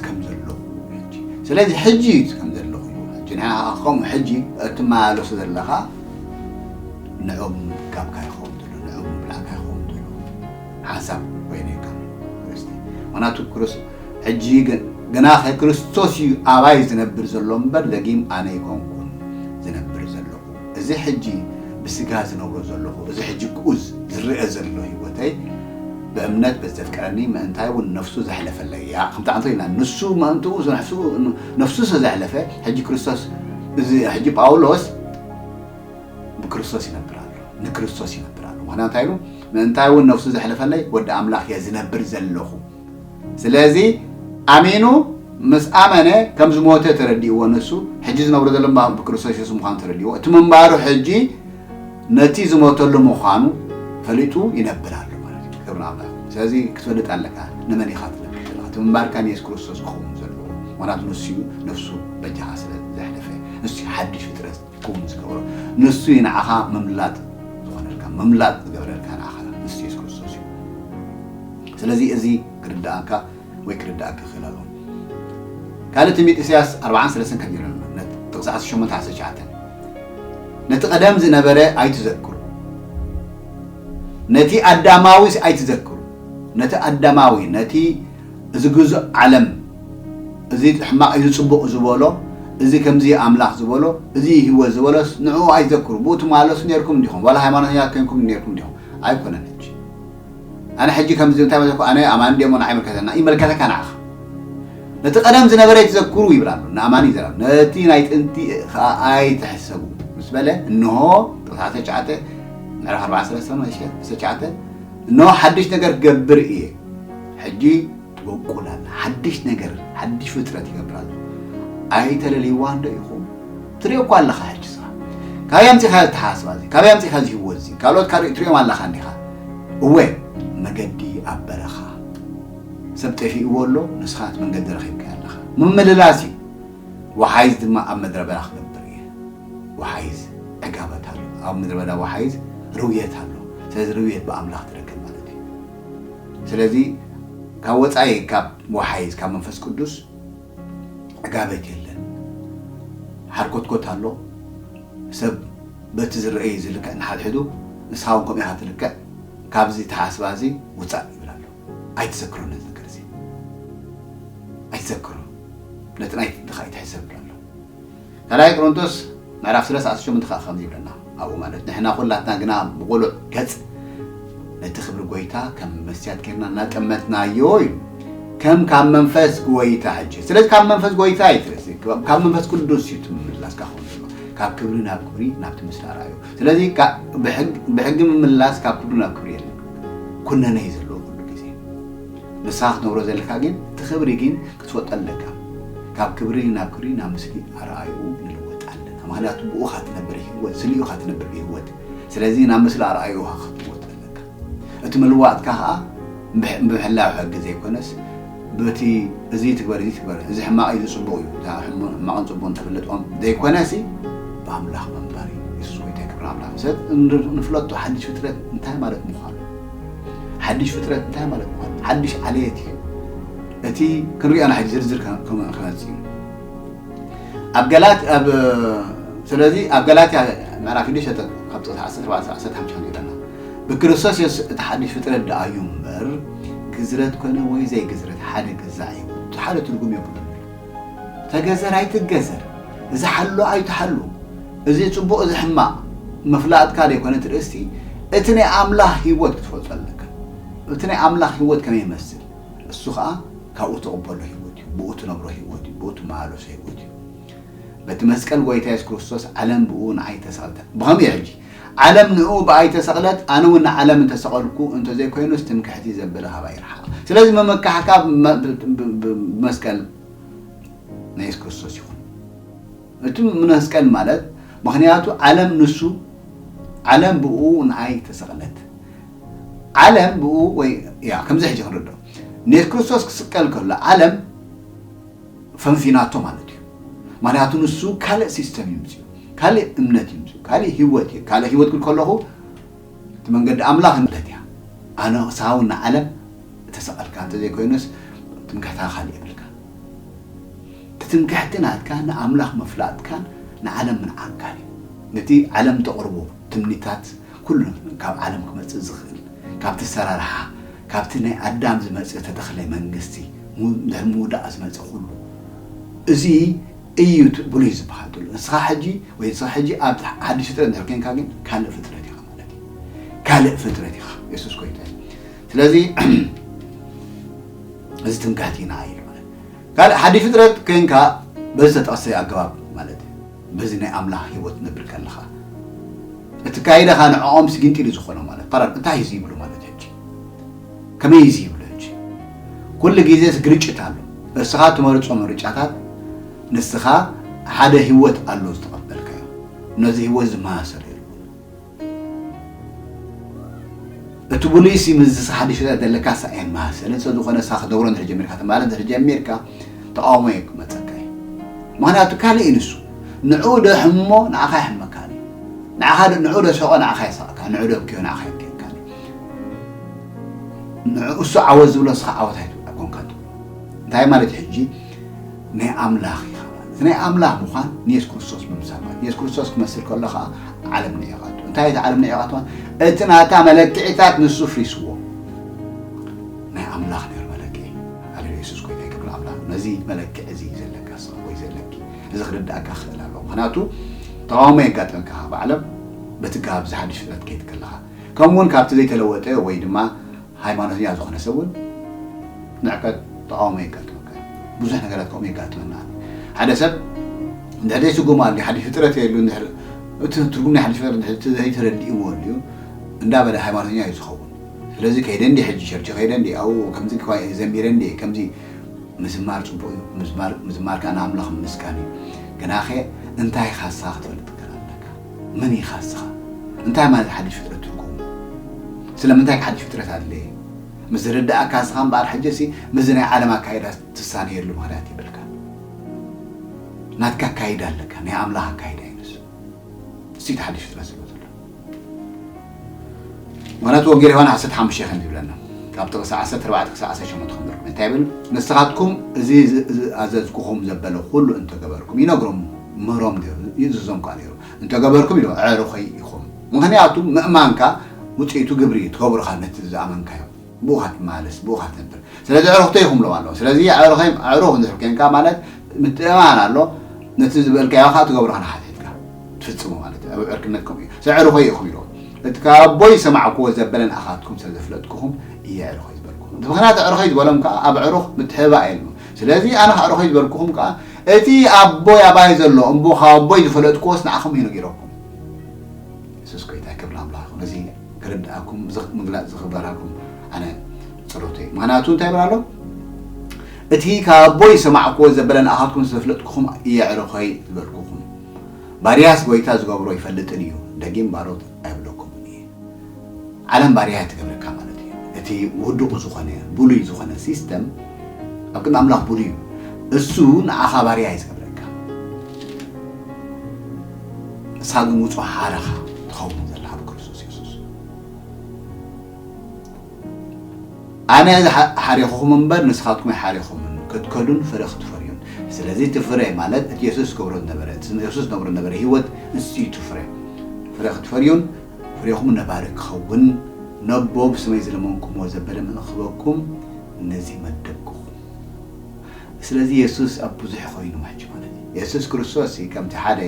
ከም ዘለኹ ሕጂ ስለዚ ሕጂ እዩ ከም ዘለኹ እዩ ሕጂ ንዓኻ ከምኡ ሕጂ እትመላለሶ ዘለኻ ንዑ ምምጋብካ ይኸውን ዘሎ ንዑ ምብላዕካ ይኸውን ዘሎ ሓንሳብ ኮይነካ ክርስቲ ምክንያቱ ክርስ ሕጂ ግና ክርስቶስ እዩ ኣባይ ዝነብር ዘሎ እምበር ደጊም ኣነ ይኮንኩን ዝነብር ዘለኹ እዚ ሕጂ ብስጋ ዝነብሮ ዘሎኹ፣ እዚ ሕጂ ግኡዝ ዝርኣ ዘሎ ህይወተይ፣ ብእምነት በቲ ዘፍቅረኒ ምእንታይ እውን ነፍሱ ዘሕለፈለይ እያ። ከምቲ ኣንተ ኢልና ንሱ ምእንትኡ ነፍሱ ስለ ዘሕለፈ፣ ሕጂ ክርስቶስ እዚ ሕጂ ጳውሎስ ብክርስቶስ ይነብር ኣሎ፣ ንክርስቶስ ይነብር ኣሎ። ምክንያቱ እንታይ ኢሉ? ምእንታይ እውን ነፍሱ ዘሕለፈለይ ወዲ ኣምላኽ እየ ዝነብር ዘለኹ። ስለዚ ኣሚኑ ምስ ኣመነ ከም ዝሞተ ተረዲእዎ ንሱ ሕጂ ዝነብሮ ዘሎ እምባ ብክርስቶስ የሱስ ምዃኑ ተረዲእዎ እቲ ምንባሩ ሕጂ ነቲ ዝሞተሉ ምዃኑ ፈሊጡ ይነብር ኣሎ ማለት እዩ ክብሪ ኣምላኽ ስለዚ ክትፈልጥ ኣለካ ንመን ኢኻ ትነብር ዘለኻ እቲ ምንባርካ ንየሱስ ክርስቶስ ክኸውን ዘለዎ ምክንያቱ ንሱ እዩ ነፍሱ በጃኻ ስለ ዘሕለፈ ንሱ ሓድሽ ፍጥረት ክውን ዝገብሮ ንሱ እዩ ንዓኻ ምምላጥ ዝኾነልካ ምምላጥ ዝገብረልካ ንዓኻ ንሱ የሱስ ክርስቶስ እዩ ስለዚ እዚ ክርድኣካ ወይ ክርድኣኪ ክኽእል ኣለዎ ካልእ ትንቢት ኢሳያስ ኣርብዓን ሰለስተን ከምዚ ኢሉ ኣሎ ነቲ ጥቕሲ ዓሰርተ ሸሞንተ ዓሰርተ ትሽዓተ ነቲ ቀደም ዝነበረ ኣይትዘክሩ ነቲ ኣዳማዊስ ኣይትዘክሩ ነቲ ኣዳማዊ ነቲ እዚ ግዙእ ዓለም እዚ ሕማቕ እዚ ጽቡቕ ዝበሎ እዚ ከምዚ እዩ ኣምላኽ ዝበሎ እዚ እዩ ህይወት ዝበሎስ ንዕኡ ኣይትዘክሩ ብኡ ትመላለሱ ኔርኩም ዲኹም ዋላ ሃይማኖተኛታት ኴንኩም ኔርኩም ዲኹም ኣይኮነን ሕጂ ኣነ ሕጂ ከምዚ እንታይ መሰልኩ ኣነ ኣማኒ ድየ እሞ ንዓይ ይምልከተና ይመልከተካ ንዓኻ ነቲ ቀደም ዝነበረ ኣይትዘክሩ ይብል ኣሎ ንኣማኒ ይዘረብ ነቲ ናይ ጥንቲ ከዓ ኣይትሕሰቡ ምስ በለ እንሆ ቁጥሪ 19 ምዕራፍ 4 ሰለስተ ነው እሺ 19 እንሆ ሓድሽ ነገር ክገብር እየ ሕጂ ትቦቁል ኣላ ሓድሽ ነገር ሓድሽ ፍጥረት ይገብር ኣሎ ኣይተለልይዋን ዶ ኢኹም ትሪኦ እኳ ኣለኻ ሕጂ ስኻ ካበይ ኣምጺኻ እዚ ተሓሳስባ እዚ ካበይ ኣምጺኻ እዚ ህይወት እዚ ካልኦት ካሪኡ ትሪኦም ኣለኻ እንዲኻ እወ መገዲ ኣብ በረኻ ሰብ ጠፊእዎ ኣሎ ንስኻ እቲ መንገዲ ረኺብካዮ ኣለኻ ምምልላስ እዩ ወሓይዝ ድማ ኣብ ምድረ በዳ ክነብር እየ ወሓይዝ ዕጋበት ኣሎ ኣብ ምድረ በዳ ወሓይዝ ርውየት ኣሎ ስለዚ ርውየት ብኣምላኽ ትረክብ ስለዚ ካብ ወጻኢ ካብ ወሓይዝ ካብ መንፈስ ቅዱስ ዕጋበት የለን። ሓርኮትኮት ኣሎ። ሰብ በቲ ዝረኣይ ዝልክዕ እንሓድሕዱ ንስኻ እውን ከምኡ ኢኻ ትልክዕ ካብዚ ኣተሓሳስባ እዚ ውጻእ ይብል ኣሎ። ኣይትዘክሮን ነዚ ነገር እዚ ኣይትዘክሮን ነቲ ናይ ጥንትኻ ኣይትሕሰብ ይብሎ ኣሎ። ካልኣይ ቆሮንቶስ ምዕራፍ ሰለስተ ዓሰርተ ሸሞንተ ከኣ ከምዚ ይብለና ኣብኡ ማለት ንሕና ኩላትና ግና ብቕሉዕ ገጽ ነቲ ክብሪ ጎይታ ከም መስትያት ጌርና እናጠመትናዮ ኢሉ ከም ካብ መንፈስ ጎይታ ሕጂ ስለዚ ካብ መንፈስ ጎይታ እዩ ትርእሲ ካብ መንፈስ ቅዱስ እዩ ትምምላስካ ክኸውን ዘሎ ካብ ክብሪ ናብ ክብሪ ናብቲ ምስሊ ኣርኣዩ ስለዚ ብሕጊ ምምላስ ካብ ክብሪ ናብ ክብሪ የለን ኩነነ እዩ ዘለዎ ኩሉ ግዜ ንስኻ ክትነብሮ ዘለካ ግን እቲ ክብሪ ግን ክትፈልጦ ኣለካ ካብ ክብሪ ናብ ክብሪ ናብ ምስሊ ኣርኣይኡ ንልወጥ ኣለና ምክንያቱ ብኡ ኢካ ትነብር ሂወት ስሊኡ ኢካ ትነብር ብሂወት ስለዚ ናብ ምስሊ ኣርኣይኡ ኢካ ክትልወጥ ዘለካ እቲ ምልዋጥካ ከኣ ብምሕላው ሕጊ ዘይኮነስ በቲ እዚ ትግበር እዚ ትግበር እዚ ሕማቅ እዩ እዚ ጽቡቅ እዩ እዛ ሕማቅን ጽቡቅን ተፍልጦም ዘይኮነሲ ብኣምላኽ ምንባር እዩ የሱስ ጎይታ ክብሪ ኣምላኽ ንሰብ ንፍለጦ ሓድሽ ፍጥረት እንታይ ማለት ምዃኑ ሓድሽ ፍጥረት እንታይ ማለት ምዃኑ ሓድሽ ዓለየት እዩ እቲ ክንሪኦ ኢና ሕጂ ዝርዝር ክመጽእ እዩ ኣብ ገላት ኣብ ስለዚ ኣብ ገላትያ ምዕራፍ ሽዱሽተ ካብ ጥቕሲ ዓሰርተ ኣርባዕተ ክሳብ ዓሰርተ ሓሙሽተ ከምዚ ኢለና ብክርስቶስ የሱስ እቲ ሓድሽ ፍጥረት ደኣ እዩ እምበር ግዝረት ኮነ ወይ ዘይግዝረት ሓደ ገዛዕ እዩ እቲ ሓደ ትርጉም የብሉን ተገዘር ኣይትገዘር እዚ ሓሉ ኣይትሓሉ እዚ ፅቡቕ እዚ ሕማቕ ምፍላጥካ ዘይኮነ እቲ ርእስቲ እቲ ናይ ኣምላኽ ህይወት ክትፈልጦ ኣለካ እቲ ናይ ኣምላኽ ህይወት ከመይ ይመስል እሱ ኸኣ ካብኡ ትቕበሎ ህይወት እዩ፣ ብኡ ትነብሮ ህይወት እዩ፣ ብኡ ትመላለሶ ህይወት እዩ። በቲ መስቀል ጐይታ የሱስ ክርስቶስ ዓለም ብኡ ንኣይ ተሰቕለት። ብኸምኡ እዩ ሕጂ ዓለም ንእኡ ብኣይ ተሰቕለት፣ ኣነ እውን ንዓለም እንተ ሰቐልኩ፣ እንተ ዘይኮይኑስ ትምክሕቲ ዘበለ ካባይ ይርሓቕ። ስለዚ ምምካሕካ ብመስቀል ናይ የሱስ ክርስቶስ ይኹን። እቲ መስቀል ማለት ምኽንያቱ ዓለም ንሱ ዓለም ብኡ ንኣይ ተሰቕለት። ዓለም ብኡ ወይ እያ ከምዚ ሕጂ ክንርድኦ ኔስ ክርስቶስ ክስቀል ከሎ ዓለም ፈንፊናቶ ማለት እዩ ምክንያቱ ንሱ ካልእ ሲስተም እዩ ምጽኡ ካልእ እምነት እዩ ምጽኡ ካልእ ህይወት እዩ ካልእ ህይወት ክብል ከለኹ እቲ መንገዲ ኣምላኽ ማለት እያ ኣነ ሳው ንዓለም እተሰቐልካ እንተዘይኮይኑስ ትምክሕትኻ ካልእ የብልካ ትትምክሕቲ ናትካ ንኣምላኽ ምፍላጥካን ንዓለም ምንዓንካን እዩ ነቲ ዓለም ተቕርቦ ትምኒታት ኩሉ ካብ ዓለም ክመጽእ ዝኽእል ካብቲ ኣሰራርሓ ካብቲ ናይ ኣዳም ዝመጸ ተተኽለ መንግስቲ ድሕሪ ምውዳቕ ዝመጸ ኩሉ እዚ እዩ እቲ ብሉይ ዝበሃል ዘሎ። ንስኻ ሕጂ ወይ ንስኺ ሕጂ ኣብ ሓድሽ ፍጥረት እንድሕር ኴንካ ግን ካልእ ፍጥረት ኢኻ ማለት እዩ። ካልእ ፍጥረት ኢኻ። የሱስ ጎይታ እዩ። ስለዚ እዚ ትምክሕቲ ኢና ኢሉ ማለት ካልእ ሓድሽ ፍጥረት ኴንካ በዚ ዝተጠቕሰ ኣገባብ ማለት እዩ። በዚ ናይ ኣምላኽ ህይወት ነብር ከለኻ እቲ ካይዳኻ ንዕኦምስ ጊንጢሉ ዝኾኖ ማለት ፓራድ እንታይ እዚ ይብሉ ማለት ሕጂ ከመይ እዚ ይብሉ ሕጂ ኩሉ ግዜስ ግርጭት ኣሎ እርስኻ ትመርጾ ምርጫታት ንስኻ ሓደ ህይወት ኣሎ ዝተቐበልካዮ ነዚ ህይወት ዝመሳሰል እቱ ብሉይሲ ምስዚ ሓዱሽ ርእሰ ዘለካ ሳኤን መሃሰልን ሰብ ዝኾነ ሳኽ ደብሮ እንድሕር ጀሚርካ ትማል እንድሕር ጀሚርካ ተቃውሞ እዩ ክመፀካ እዩ ምክንያቱ ካልእ እዩ ንሱ ንዕኡ ዶ ሕሞ ንዓኻ ይሕመካ እዩ ንዓኻ ንዕኡ ዶ ሰቆ ንዓኻ የሳቅካ ንዕኡ ዶ ብክዮ ንዓኻ ይብክየካ እዩ ንዕኡ እሱ ዓወት ዝብሎ ንስኻ ዓወት ኣይትብሎ ኣይኮንካን ትብሎ እንታይ ማለት እዩ ሕጂ ናይ ኣምላኽ ኢኻ ማለት እዩ። እቲ ናይ ኣምላኽ ምዃን ንየሱስ ክርስቶስ ምምሳል ማለት እዩ። የሱስ ክርስቶስ ክትመስል ከሎ ከኣ ዓለም ንዒቓቶ። እንታይ እዩ እቲ ዓለም ንዒቓቶ? እቲ ናታ መለክዒታት ንሱ ፍሪስዎ። ናይ ኣምላኽ ነይሩ መለክዒ። ሃሌሉያ የሱስ ጎይታ እዩ ክብሪ ንኣምላኽ። ነዚ መለክዒ እዚ እዩ ዘለካ ንስኻ ወይ ዘለኪ። እዚ ክርድኣካ ክኽእል ኣለዎ። ምኽንያቱ ተቓውሞ የጋጥመካ ካብ ዓለም በቲ ጋብ እዚ ሓድሽ ፍጥረት ክትከይድ ከለኻ። ከምኡውን ካብቲ ዘይተለወጠ ወይ ድማ ሃይማኖተኛ ዝኾነ ሰብ ውን ንዕቀት ተቓውሞ የጋጥመካ እዩ። ብዙሕ ነገራት ከምኡ የጋጥመና ኣሎ። ሓደ ሰብ እንድሕር ዘይስጉም ኣልዩ ሓድሽ ፍጥረት እየ ኢሉ እንድሕር እቲ ትርጉም ናይ ሓድሽ ፍጥረት እንድሕር ዘይተረዲእዎ ኣልዩ እንዳበለ ሃይማኖተኛ እዩ ዝኸውን። ስለዚ ከይደ እንድየ ሕጂ ቸርች ከይደ እንድየ ኣብኡ ከምዚ ኳየር ዘሚረ እንድየ ከምዚ ምዝማር ጽቡቕ እዩ ምዝማር ምዝማር ከኣ ንኣምላኽ ምምስጋን እዩ ግናኸ እንታይ ኢኻሳ ክትፈልጥ ግን ኣለካ። መን ኢኻ እስኻ? እንታይ ማለት ሓድሽ ፍጥረት ትርጉሙ? ስለምንታይ ከ ሓድሽ ፍጥረት ኣድለየ? ምስ ዝርደኣካ እስኻ እምበኣር ሕጂ'ሲ ምስዚ ናይ ዓለም ኣካይዳ ትሳነየሉ ምኽንያት የብልካን። ናትካ ኣካይዳ ኣለካ፣ ናይ ኣምላኽ ኣካይዳ እዩ ንሱ። እሱ'ዩ እቲ ሓድሽ ፍጥረት ዝብሎ ዘሎ። ምክንያቱ ወንጌል ዮሃን ዓሰርተ ሓሙሽተ ከምዚ ይብለና ካብ ጥቕሲ ዓሰርተ ኣርባዕተ ክሳብ ዓሰርተ ሸሞንተ ከም ዝርኩም እንታይ ይብል ንስኻትኩም እዚ ዝኣዘዝኩኹም ዘበለ ኩሉ እንተገበርኩም ይነግሮም ምህሮም ድዩ ይእዝዞም ከኣ ነይሩ እንተገበርኩም ኢሉ ኣዕሩኸይ ኢኹም ምክንያቱ ምእማንካ ውፅኢቱ ግብሪ እዩ ትገብርካ ነቲ ዝኣመንካዮ ብኡኻ ትመላለስ ብኡኻ ትነብር ስለዚ ኣዕሩኽተይ ይኹም ኢሎም ኣለዉ ስለዚ ኣዕሩኸይም ኣዕሩኽ እንድሕር ኴንካ ማለት ምትእምማን ኣሎ ነቲ ዝበልካዮ ከኣ ትገብሮ ንሓትሒትካ ትፍጽሞ ማለት እዩ ኣብ ዕርክነት ከምኡ እዩ ስለዚ ኣዕሩኸይ ኢኹም ኢሎም እቲ ካብ ኣቦይ ዝሰማዕክዎ ዘበለ ንኣኻትኩም ስለ ዘፍለጥኩኹም እየ ኣዕሩኸይ ዝበልኩኹም እቲ ምኽንያት ኣዕሩኸይ ዝበሎም ከኣ ኣብ ኣዕሩኽ ምትሕብባእ የልቦን ስለዚ ኣነ ኣዕሩኸይ ዝበልኩኹም ከኣ እቲ ኣቦይ ኣባይ ዘሎ እምቦ ካብ ኣቦይ ዝፈለጥክዎስ ንዓኹም እዩ ነጊረኩም የሱስ ጎይታይ ክብሪ ኣምላኽ ይኹን እዚ ክርድኣኩም እዚ ምግላጽ እዚ ክበራኩም ኣነ ጸሎተይ ምኽንያቱ እንታይ ይብል ኣሎ እቲ ካብ ኣቦይ ዝሰማዕክዎ ዘበለ ንኣኻትኩም ዘፍለጥኩኹም እየዕርኸይ ዝበልኩኹም ባርያስ ጎይታ ዝገብሮ ይፈልጥን እዩ ደጊም ባሮት ኣይብለኩምን እዩ ዓለም ባርያ ትገብረካ ማለት እዩ እቲ ውዱቕ ዝኾነ ብሉይ ዝኾነ ሲስተም ኣብ ቅድሚ ኣምላኽ ብሉይ እዩ እሱ ንኣኻ ባርያ እዩ ዝገብረካ ንስኻ ግን ውጹ ሓረኻ ትኸውን ዘለኻ ብክርስቶስ የሱስ ኣነ ሓሪኹኹም እምበር ንስኻትኩም ኣይሓሪኹምን ክትከዱን ፍረ ክትፈርዩን ስለዚ እቲ ፍረ ማለት እቲ የሱስ ዝገብሮ ዝነበረ እቲ የሱስ ዝነብሮ ዝነበረ ህይወት ንሱ እዩ እቲ ፍረ ፍረ ክትፈርዩን ፍሬኹም ነባሪ ክኸውን ነቦ ብስመይ ዝለመንኩምዎ ዘበለ ምእንቲ ክህበኩም ነዚ መደብኩኹም። ስለዚ የሱስ ኣብ ብዙሕ ኾይኑ ሕጂ ማለት እዩ። የሱስ ክርስቶስ ከምቲ ሓደ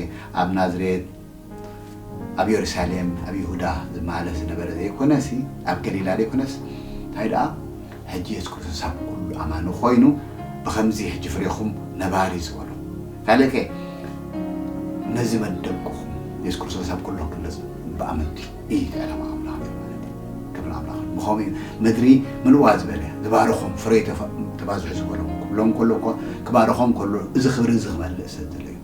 ኣብ ናዝሬት፣ ኣብ የሩሳሌም፣ ኣብ ይሁዳ ዝመላለስ ዝነበረ ዘይኮነሲ፣ ኣብ ገሊላ ዘይኮነስ እንታይ ደኣ፣ ሕጂ የሱስ ክርስቶስ ኣብ ኩሉ ኣማኒ ኮይኑ ብከምዚ ሕጂ ፍሬኩም ነባሪ ዝበሎ ካልእከ ነዚ መደብኩም የሱስ ክርስቶስ ኣብ ኩሉ ክግለጽ ብኣመንቲ እዩ እቲ ዕላማ ኣምላኽ እዩ ማለት እዩ ክብሪ ኣምላኽ ብከምኡ እዩ ምድሪ ምልዋ ዝበለ ዝባረኮም ፍሬ ተባዝሑ ዝበሎም ክብሎም ከሎ እኮ ክባረኮም ከሎ እዚ ክብሪ እዚ ክመልእ ስለ ዘሎ እዩ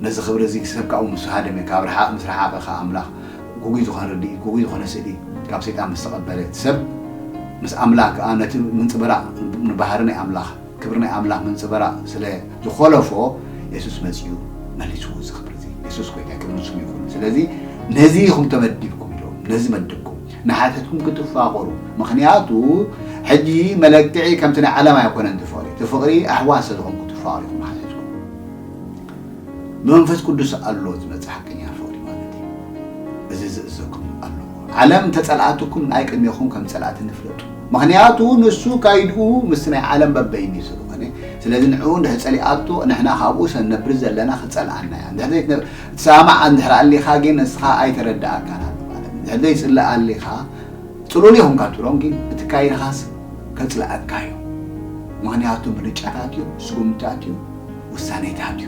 ነዚ ክብሪ እዚ ክሰብ ካብኡ ምስ ሃደመ፣ ካብ ረሓቕ ምስ ረሓቐ ከኣ ኣምላኽ ግጉይ ዝኾነ ርድኢት፣ ግጉይ ዝኾነ ስእሊ ካብ ሰይጣን ምስ ተቐበለ፣ እቲ ሰብ ምስ ኣምላኽ ከኣ ነቲ ምንጽብራቕ ንባህሪ ናይ ኣምላኽ፣ ክብሪ ናይ ኣምላኽ ምንጽብራቕ ስለ ዝኾለፎ፣ የሱስ መጺኡ መሊስዎ እዚ ክብሪ እዚ። የሱስ ጎይታይ ክብሪ ንስሙ ይኹን። ስለዚ ነዚ ኢኹም ተመዲብኩም ኢሎም ነዚ መደብኩም። ንሓትሕትኩም ክትፋቐሩ፣ ምኽንያቱ ሕጂ መለክዒ ከምቲ ናይ ዓለም ኣይኮነን እቲ ፍቕሪ፣ እቲ ፍቕሪ ኣሕዋት ስለ ዝኾንኩም ትፋቐሩ ኢኹም ንሓትሕትኩም። ብመንፈስ ቅዱስ ኣሎ ዝመጽእ ሓቀኛ ፍቕሪ ማለት እዩ። እዚ ዝእዘኩም ኣሎ ዓለም ተጸልኣትኩም ናይ ቅድሜኹም ከም ጸላእቲ ንፍለጡ ምክንያቱ ንሱ ካይድኡ ምስ ናይ ዓለም በበይኒ ስለኾነ ስለዚ ንዕኡ እንድሕር ጸሊኣቶ ንሕና ካብኡ ሰንነብር ዘለና ክጸልኣና እያ እንድሕር ዘይትሰማማዕ እንድሕር ኣሊኻ ግን ንስኻ ኣይተረድኣካን ኣሎ ማለት እንድሕር ዘይጽልእ ኣሊኻ ጽሉል ኢኹም ካብ ትብሎም ግን እቲ ካይድኻስ ከጽልኣካ እዩ ምክንያቱ ምርጫታት እዩ ስጉምትታት እዩ ውሳኔ ተሃልዩ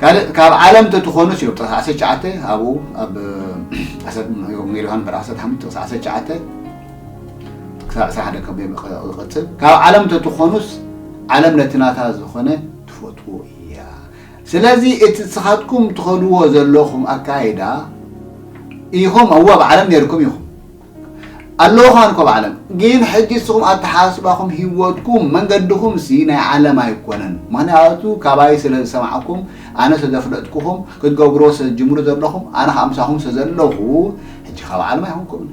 ካልእ ካብ ዓለም ተትኾኑስ ዮ ጥቕስ ዓሰርተ ትሽዓተ ኣብኡ ኣብ ዓሰርተ ወንጌል ዮሃን ምዕራፍ ዓሰርተ ሓሙሽተ ጥቕስ ዓሰርተ ትሽዓተ ክሳብ ዕስራ ሓደ ከም ይቕጽል ካብ ዓለም ተትኾኑስ ዓለም ነቲ ናታ ዝኾነ ትፈትዎ እያ ስለዚ እቲ ንስኻትኩም ትኸድዎ ዘለኹም ኣካይዳ ኢኹም እወ ኣብ ዓለም ነርኩም ኢኹም ኣለዉ ከማን ኮብ ዓለም ግን ሕጂ እስኹም ኣተሓሳስባኹም ሂወትኩም መንገድኹም ሲ ናይ ዓለም ኣይኮነን ምኽንያቱ ካባይ ስለ ዝሰማዕኩም ኣነ ስለ ዘፍለጥኩኹም ክትገብርዎ ስለ ትጅምሩ ዘለኹም ኣነ ከኣ ምሳኹም ስለ ዘለኹ ሕጂ ካብ ዓለም ኣይኮንኩምን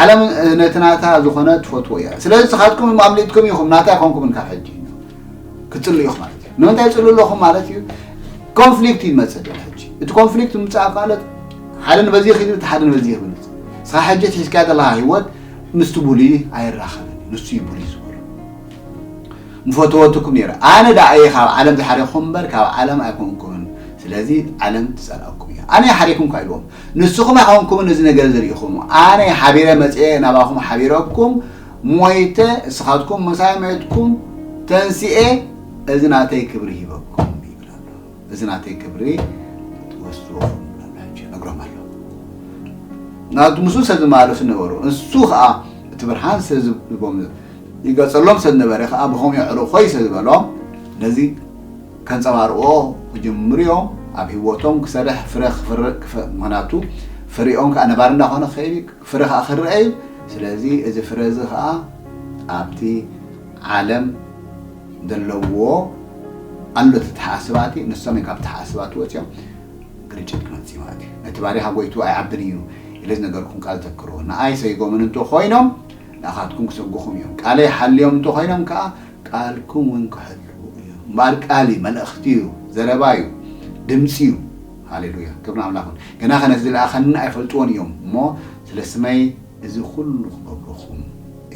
ዓለም ነቲ ናታ ዝኾነ ትፈትዎ እያ ስለዚ ንስኻትኩም ኣምሊጥኩም ኢኹም ናታ ኣይኮንኩምን ካብ ሕጂ ክፅሉ ኢኹ ማለት እዩ ንምንታይ ፅሉ ኣለኹ ማለት እዩ ኮንፍሊክት እዩ ዝመፅእ ድሕሪ ሕጂ እቲ ኮንፍሊክት ምምፃእ ካለት ሓደ ንበዚ ክብል እቲ ሓደ ንበዚ ክብል ስኻ ሕጂ ትሒዝካያ ዘለካ ሂወት ምስቲ ቡሊ ኣይራኸብን እዩ ንሱ እዩ ቡሊ ዝበሎ ምፈተወትኩም ነይረ ኣነ ዳኣ እየ ካብ ዓለም ዝሓረኹም እምበር ካብ ዓለም ኣይኮንኩምን ስለዚ ዓለም ትፀልኣኩም እያ ኣነ ሓሪኩም ካ ኢልዎም ንስኹም ኣይኮንኩምን እዚ ነገር ዝርኢኹም ኣነ ሓቢረ መፅአ ናባኹም ሓቢረኩም ሞይተ እስኻትኩም ምሳይ ሜትኩም ተንሲኤ እዚ ናተይ ክብሪ ሂበኩም ይብል ኣሎ እዚ ናተይ ክብሪ ወስድዎኹም ብላላቸው ነግሮም ኣሎ ናቱ ምስ ሰብ ዝመላለሱ ነበሩ እሱ ከዓ እቲ ብርሃን ሰብ ዝቦም ይገጸሎም ሰብ ነበረ ከዓ ብኸም የዕሩ ኮይ ሰብ ዝበሎም ነዚ ከንጸባርቅዎ ክጅምሩ እዮም ኣብ ህይወቶም ክሰርሕ ፍረ ክፍርእ ምክንያቱ ፍሪኦም ከዓ ነባሪ እንዳኾነ ክኸይድ ፍረ ኸኣ ክርኣ እዩ። ስለዚ እዚ ፍረ እዚ ኸኣ ኣብቲ ዓለም ዘለዎ ኣሎ ተተሓኣስባቲ ንሶም እዮም ካብቲ ተሓኣስባቲ ወጺኦም ግርጭት ክመጽእ ማለት እዩ። ነቲ ባሪኻ ጎይትኡ ኣይዓብን እዩ ኢለ ዝነገርኩም ቃል ዘክርዎ። ንኣይ ሰይጎምን እንተ ኾይኖም ንኣኻትኩም ክሰጉኹም እዮም። ቃለይ ሓልዮም እንተ ኾይኖም ከኣ ቃልኩም እውን ክሕልዉ እዮም። እምበኣር ቃል እዩ፣ መልእኽቲ እዩ፣ ዘረባ እዩ፣ ድምጺ እዩ። ሃሌሉያ ክብሪ ንኣምላኽ ይኹን ገናኸ ነቲ ዝለኣኸኒ ኣይፈልጥዎን እዮም እሞ ስለ ስመይ እዚ ኹሉ ክገብሩኹም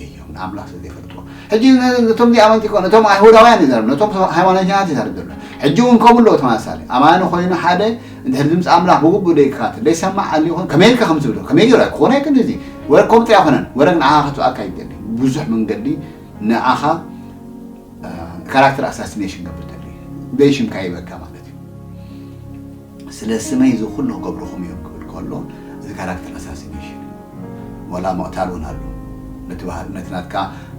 እዮም ንኣምላኽ ስለ ዘይፈልጥዎ ሕጂ ነቶም ዘይኣመንቲ ይኮን ነቶም ኣይሁዳውያን ይዛረብ ነቶም ሃይማኖተኛታት ይዛረብ ዘሎ ሕጂ እውን ከምኡ ኣለዎ ተመሳሳሊ ኣማኒ ኮይኑ ሓደ እንድሕሪ ድምፂ ኣምላኽ ብግቡእ ደይከታተል ደይሰማዕ ኣልዩ ይኮን ከመይ ኢልካ ከም ትብሎ ከመይ ገይሩ ክኾነ ኣይክእልን እዚ ወረ ከምኡ ጥራይ ኣይኮነን ወረግ ንዓኻ ከትብኣካ ይደሊ ብዙሕ መንገዲ ንዓኻ ካራክተር ኣሳሲኔሽን ገብር ተልዩ በይ ሽምካ ይበካ ማለት እዩ ስለ ስመይ እዚ ኩሉ ክገብርኹም እዮም ክብል ከሎ እዚ ካራክተር ኣሳሲኔሽን እዩ ዋላ ምቕታል እውን ኣሎ ነቲ ባህሪ ነቲ ናትካ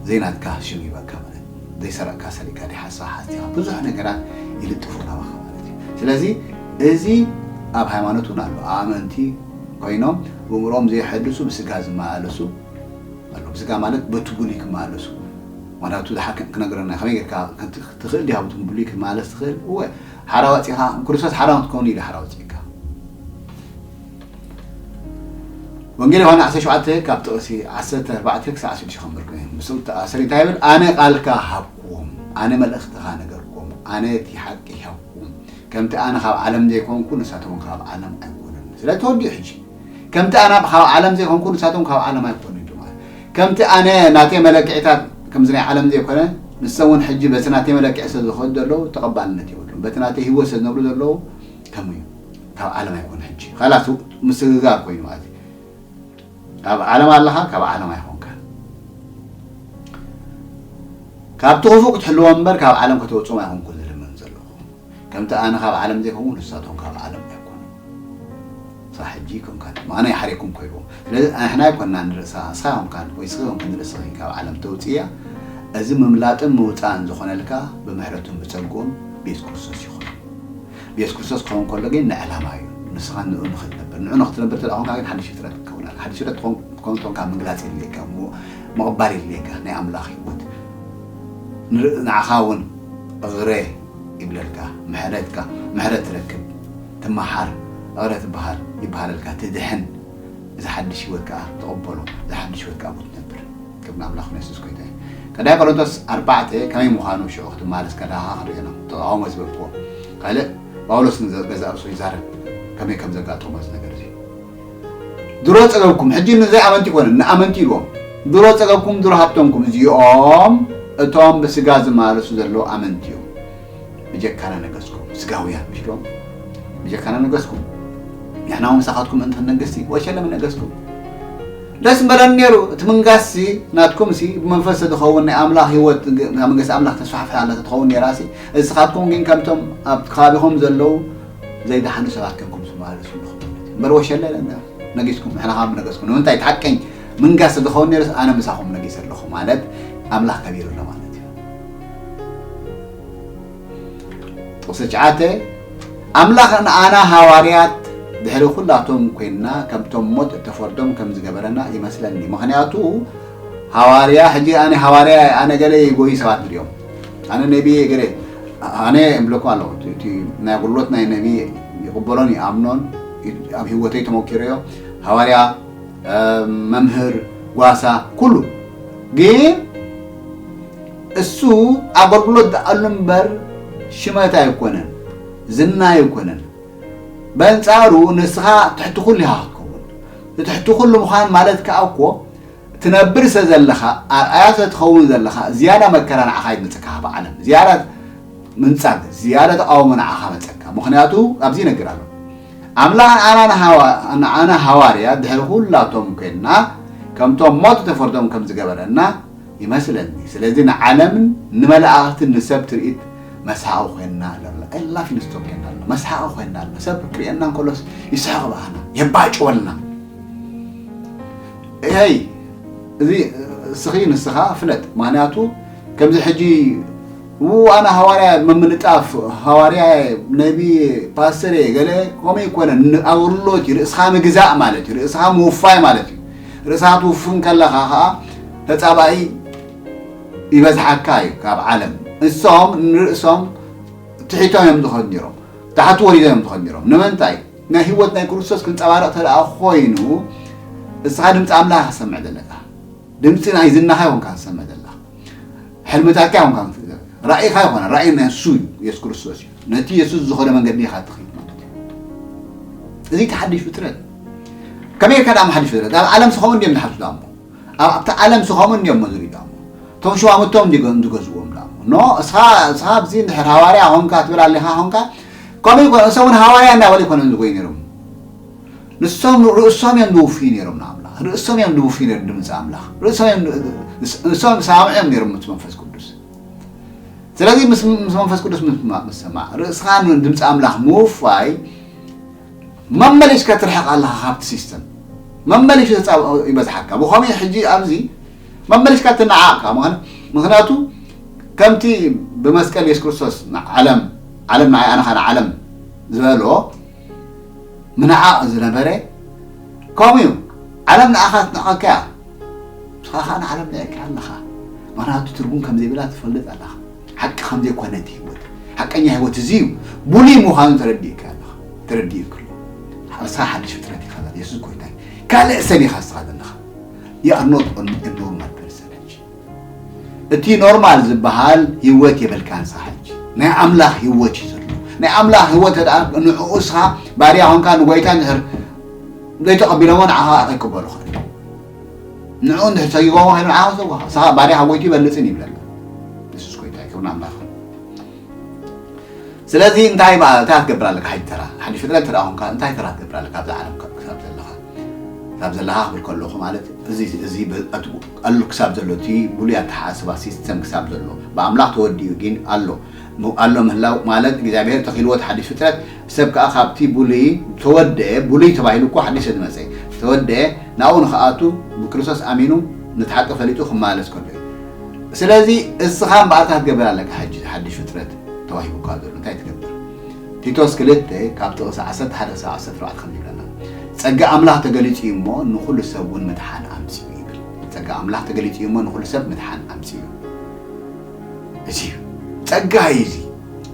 ዘይናትካ ሽም ይበካ ማለት ዘይሰረቕካ ሰሪቕካ ዲ ሓሳ ሓስቲኻ ብዙሕ ነገራት ይልጥፉ ናባኻ ማለት እዩ ስለዚ እዚ ኣብ ሃይማኖት እውን ኣሎ ኣመንቲ ኮይኖም ብምሮም ዘይሐድሱ ብስጋ ዝመላለሱ ኣሎ ብስጋ ማለት በቲ ብሉይ ክመላለሱ ዋናቱ ዝሓክም ክነግረና ከመይ ጌርካ ትኽእል ዲኻ ብቱም ብሉይ ክትማለስ ትኽእል እወ ሓራ ኣዋጺኻ ንክርስቶስ ሓራ ንክትከውን ኢሉ ሓራ ኣውጺእካ ወንጌል ዮሃና ዓሰርተ ሸውዓተ ካብ ጥቕሲ ዓሰርተ ኣርባዕተ ክሳዕ ሽዱሽተ ከንብር ኮይኑ ምስ ተኣሰሪ እንታይ ይብል ኣነ ቃልካ ሃብኩም ኣነ መልእኽትኻ ነገርኩም ኣነ እቲ ሓቂ ሃብኩም ከምቲ ኣነ ካብ ዓለም ዘይኮንኩ ንሳቶም ካብ ዓለም ኣይኮኑን ስለዚ ተወዲኡ ሕጂ ከምቲ ኣና ብካብ ዓለም ዘይኮንኩ ንሳቶም ካብ ዓለም ኣይኮኑን ድማ ከምቲ ኣነ ናተይ መለክዒታት ከምዚ ናይ ዓለም ዘይኮነ ንሰም እውን ሕጂ በቲ ናተይ መለክዒ ስለ ዝኸዱ ዘለዉ ተቐባልነት የብሉን በቲ ናተይ ህይወት ስለ ዝነብሩ ዘለዉ ከምኡ እዩ ካብ ዓለም ኣይኮኑ ሕጂ ካላስ ምስግጋር ኮይኑ ማለት እዩ ኣብ ዓለም ኣለኻ ካብ ዓለም ኣይኮንካ ካብቲ ክፉእ ክትሕልዎም እምበር ካብ ዓለም ከተውፅኦም ኣይኮንኩ ከምቲ ኣነ ካብ ዓለም ዘይኮንኩ ንሳቶም ካብ ዓለም ኣይኮኑን ክሳዕ ሕጂ ከም ካልእ ኣነ ይሓርየኩም ኮይንዎም ስለዚ ንሕና ኣይኮናን ንርእሳ ንስኻ ኮንካን ወይ ንስኺ ኮንኪ ንርእስኺ ካብ ዓለም ተውጽእያ እዚ ምምላጥን ምውጻእን ዝኾነልካ ብምሕረቱን ብጸግኡን ቤት ክርስቶስ ይኹን ቤት ክርስቶስ ክኸውን ከሎ ግን ንዕላማ እዩ ንስኻ ንኡ ንኽትነብር ንኡ ንኽትነብር እንተ ኮንካ ግን ሓድሽ ፍጥረት ክትከውን ኣለካ ሓድሽ ፍጥረት ክትከውን ተኮንካ ምግላጽ የድልየካ እሞ ምቕባል የድልየካ ናይ ኣምላኽ ህይወት ንዓኻ እውን እግረ ይብለልካ ምሕረትካ ምሕረት ትረክብ ትማሓር እቕረ ትባሃል ይባሃለልካ ትድሕን እዚ ሓድሽ ህይወት ከኣ ትቕበሎ እዚ ሓድሽ ህይወት ከኣ ኣብኡ ትነብር ክብ ንኣምላኽ ንየሱስ ኮይታ እዩ ቀዳይ ቆሮንቶስ ኣርባዕተ ከመይ ምዃኑ ሽዑ ክትመሃለስ ከለኻ ክንሪኦ ኢና ተቃውሞ ዝበልክዎ ካልእ ጳውሎስ ንገዛእ ርእሱ ይዛረብ ከመይ ከም ዘጋጠሞ እዚ ነገር እዚ ድሮ ጸገብኩም ሕጂ ንዘይ ኣመንቲ ኣይኮነን ንኣመንቲ ኢልዎም ድሮ ጸገብኩም ድሮ ሃብተምኩም እዚኦም እቶም ብስጋ ዝማለሱ ዘለዉ ኣመንቲ እዮም ብጀካና ነገስኩም ስጋውያን ምሽዶም ብጀካና ነገስኩም ንሕና እውን ምሳኻትኩም እንተ ነገስቲ ወሸለመ ነገስኩም ደስ ምበለን ነይሩ እቲ ምንጋስሲ ናትኩምሲ ብመንፈስ ተትኸውን ናይ ኣምላኽ ህይወት መንግስቲ ኣምላኽ ተስፋሕፍሕ ኣላ ተትኸውን ነይራሲ እስኻትኩም ግን ከምቶም ኣብ ከባቢኹም ዘለዉ ዘይደሓኑ ሰባት ኴንኩም ትመላለሱ ኣለኹም ማለት እዩ እምበር ወሸለ ለንደር ነጊስኩም ንሕና ከኣ ምነገስኩም ንምንታይ እቲ ሓቀኝ ምንጋስ ተዝኸውን ነይሩስ ኣነ ምሳኹም ነጊሰ ኣለኹ ማለት ኣምላኽ ከቢሩ ኣሎ ማለት እዩ ጥቕሲ ትሽዓተ ኣምላኽ ንኣና ሃዋርያት ድሕሪ ኩላቶም ኮይንና ከምቶም ሞት እተፈርዶም ከም ዝገበረና ይመስለኒ ምክንያቱ ሃዋርያ ሕጂ ኣነ ሃዋርያ ኣነ ገለ ጎይ ሰባት ድዮም ኣነ ነቢየ እየ ገለ ኣነ እብለኩም ኣለኹ እቲ ናይ ኣገልግሎት ናይ ነቢይ ይቕበሎን ይኣምኖን ኣብ ህይወተይ ተመኪረዮ ሃዋርያ መምህር ጓሳ ኩሉ ግን እሱ ኣገልግሎት ዝኣሉ እምበር ሽመት ኣይኮነን ዝና ኣይኮነን በንጻሩ ንስኻ ትሕቲ ኩሉ ኢኻ ክትከውን ትሕቲ ኩሉ ምዃን ማለት ከዓ እኮ ትነብር ስለ ዘለኻ ኣርኣያ ስለ ትኸውን ዘለኻ ዝያዳ መከራ ንዓኻ ይመጸካ ካብ ዓለም ዝያዳ ምንጻግ ዝያዳ ተቓውሞ ንዓኻ መጸካ ምኽንያቱ ኣብዚ ይነግር ኣሎ ኣምላኽ ንዓና ሃዋርያ ድሕሪ ኩላቶም ኮይንና ከምቶም ሞት ተፈርዶም ከም ዝገበረና ይመስለኒ ስለዚ ንዓለምን ንመላእኽትን ንሰብ ትርኢት መስሓቂ ኮይንና ኣለና ኤላፊ ንስቶም ኮይና ኣለና መስሓቂ ኮይንና ኣለና ሰብ ክርእየና እንከሎስ ይስሕቕ ብኣና የባጭወልና ኤይ እዚ እስኺ ንስኻ ፍለጥ ማንያቱ ከምዚ ሕጂ ው ኣነ ሃዋርያ ምምልጣፍ ሃዋርያ ነቢ ፓስተር እየ ገለ ከምኡ ይኮነን ኣውርሎት እዩ ርእስኻ ምግዛእ ማለት እዩ ርእስኻ ምውፋይ ማለት እዩ ርእስኻ ትውፍን ከለኻ ከዓ ተፃባኢ ይበዝሓካ እዩ ካብ ዓለም እሶም ንርእሶም ትሒቶም እዮም ዝኸዱ ነሮም ታሕቲ ወሪዶም እዮም ዝኸዱ ነሮም ንምንታይ ናይ ህይወት ናይ ክርስቶስ ክንጸባረቕ ተደኣ ኮይኑ እስኻ ድምፂ ኣምላኽ ክትሰምዕ ዘለካ ድምፂ ናይ ዝናኻ ይኹንካ ክትሰምዕ ዘለካ ሕልምታትካ ይኹንካ ራእይኻ ይኾነ ራእይ ናይ ንሱ እዩ የሱስ ክርስቶስ እዩ ነቲ የሱስ ዝኾነ መንገዲ ኢኻ ትኽእል ማለት እዩ እዚ ተሓዲሽ ፍጥረት ከመይ ኢልካ ዳሞ ሓዲሽ ፍጥረት ኣብ ዓለም ስኸሙ እንዲዮም ዝሓሱ ዳሞ ኣብቲ ዓለም ስኸሙ እንዲዮም መዝሪ ዳሞ እቶም ሽማምቶም እንዲገዝዎም ዳሞ ኖ እስኻ እስኻ ኣብዚ ንድሕር ሃዋርያ ሆንካ ትብል ኣሊኻ ሆንካ ከምኡ ይኮ እሶም ውን ሃዋርያ እንዳበሉ ኣይኮነን ዝጎዩ ነይሮም ንሶም ንርእሶም እዮም ዝውፍዩ ነይሮም ንኣምላኽ ርእሶም እዮም ዝውፍዩ ነይሮም ድምፂ ኣምላኽ ርእሶም እዮም ንሶም ዝሰማምዑ እዮም ነይሮም ምስ መንፈስ ቅዱስ ስለዚ ምስ መንፈስ ቅዱስ ምስ ሰማዕ ርእስኻ ንድምፂ ኣምላኽ ምውፋይ መመሊስካ ትርሕቕ ኣለኻ ካብቲ ሲስተም መመሊሱ ይበዝሓካ ብኸመይ ሕጂ ኣብዚ መመሊስካ ትነዓቕ ከኣ ምኽን ምኽንያቱ ከምቲ ብመስቀል የሱስ ክርስቶስ ንዓለም ዓለም ንዓይ ኣነ ከኣ ንዓለም ዝበሎ ምንዓቕ ዝነበረ ከምኡ እዩ ዓለም ንኣኻ ትንዕቐካ እያ ንስኻ ከኣ ንዓለም ንዕቅካ ኣለኻ ምኽንያቱ ትርጉም ከም ዘይብላ ትፈልጥ ኣለኻ ሓቂ ከም ዘይኮነት ህይወት ሓቀኛ ህይወት እዚ እዩ ብሉይ ምዃኑ ተረዲእካ ኣለኻ ተረዲእክሉ ንስኻ ሓድሽ ፍጥረት ኢኻ የሱስ ጎይታ ካልእ ሰብ ኢኻ ንስኻ ዘለኻ ዩ ኣር ኖት ኦንሊ አ ኖርማል ፐርሰን ሕጂ እቲ ኖርማል ዝበሃል ህይወት የብልካን ስኻ ሕጂ ናይ ኣምላኽ ህይወት እዩ ዘሎ ናይ ኣምላኽ ህይወት ደኣ ንዕኡ ስኻ ባርያ ኮንካ ንጎይታ እንድሕር ዘይተቐቢሎሞ ንዓኻ ከዓ ከይቅበሉ ኽእል ንዕኡ እንድሕር ሰጊጎሞ ከይኑ ንዓኻ ሰጓኻ ስኻ ባርያ ካብ ጎይቱ ይበልፅን ይብለሉ የሱስ ጎይታ እዩ ክብርን ኣምላኽ ስለዚ እንታይ እታ ትገብር ኣለካ ሕጂ ተራ ሓድሽ ፍጥረት ተደኣ ኮንካ እንታይ ተራ ትገብር ኣለካ ኣብዛ ዓለም ክሳብ ዘለኻ ካብ ዘላኻኽብል ከለኹ ማለት እዚ እዚ ኣሉ ክሳብ ዘሎ እቲ ብሉይ ኣተሓሳስባ ሲስተም ክሳብ ዘሎ ብኣምላኽ ተወዲኡ ጊን ኣሎ ኣሎ ምህላው ማለት እግዚኣብሄር ተኺልዎ እቲ ሓዲሽ ፍጥረት ሰብ ከኣ ካብቲ ብሉይ ተወደኤ ብሉይ ተባሂሉ እኮ ሓዲሽ ዝመጸ ተወደኤ ናብኡ ንኽኣቱ ብክርስቶስ ኣሚኑ ነቲ ሓቂ ፈሊጡ ክመላለስ ከሎ እዩ ስለዚ እስኻ እምበኣርካ ክትገብር ኣለካ ሕጂ ሓዲሽ ፍጥረት ተዋሂቡካ ዘሎ እንታይ ትገብር ቲቶስ ክልተ ካብ ጥቕሲ ዓሰርተ ሓደ ክሳብ ዓሰርተ ኣርባዕተ ከምዚ ይብለና፣ ጸጋ ኣምላኽ ተገሊጹ እዩ እሞ፣ ንኹሉ ሰብ እውን ምድሓን ኣምጺኡ ይብል። ጸጋ ኣምላኽ ተገሊጹ እዩ እሞ፣ ንኹሉ ሰብ ምድሓን ኣምጺኡ እዩ። እዚ እዩ ጸጋ እዩ እዚ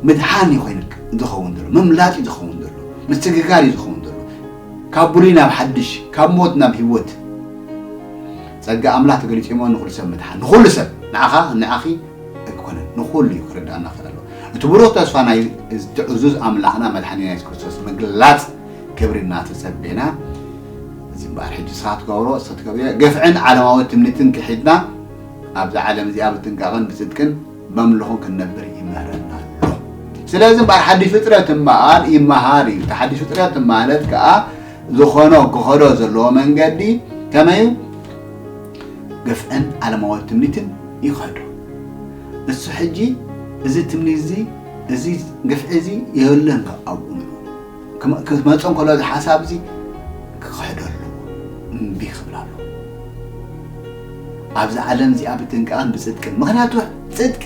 ምድሓን እዩ ኮይኑ ዝኸውን ዘሎ፣ ምምላጥ እዩ ዝኸውን ዘሎ፣ ምስግጋር እዩ ዝኸውን ዘሎ፣ ካብ ብሉይ ናብ ሓድሽ፣ ካብ ሞት ናብ ህይወት። ጸጋ ኣምላኽ ተገሊጹ እዩ እሞ፣ ንኹሉ ሰብ ምድሓን፣ ንኹሉ ሰብ፣ ንዓኻ፣ ንዓኺ፣ ኣይኮነን ንኹሉ እዩ ክርዳእና ክኽእል ኣለዎ እቲ ብሩህ ተስፋ ናይ እቲ ዕዙዝ ኣምላኽና መድሓኒና የሱስ ክርስቶስ ምግላጽ ክብሪ እናተጸቤና እዚ እምበኣር ሕጂ ንስኻ ትገብሮ እስኺ ትገብርዮ ግፍዕን ዓለማዊ ትምኒትን ክሒድና ኣብዚ ዓለም እዚኣ ብጥንቃቕን ብጽድቅን በምልኹን ክንነብር ይምህረና ኣሎ ስለዚ እምበኣር ሓድሽ ፍጥረት እምበኣር ይመሃር እዩ እቲ ሓድሽ ፍጥረት ማለት ከዓ ዝኾኖ ክኸዶ ዘለዎ መንገዲ ከመይ እዩ ግፍዕን ዓለማዊ ትምኒትን ይኸዱ። እሱ ሕጂ እዚ ትምኒትዚ እዚ ግፍዒዚ የለን ኣብኡ ምሉ ክመጾ እንከሎ እዚ ሓሳብዚ ክኽሕዶ ኣለዎ እምቢ ክብል ኣለዎ ኣብዚ ዓለም እዚኣ ብጥንቃቕን ብጽድቅን ምክንያቱ ጽድቂ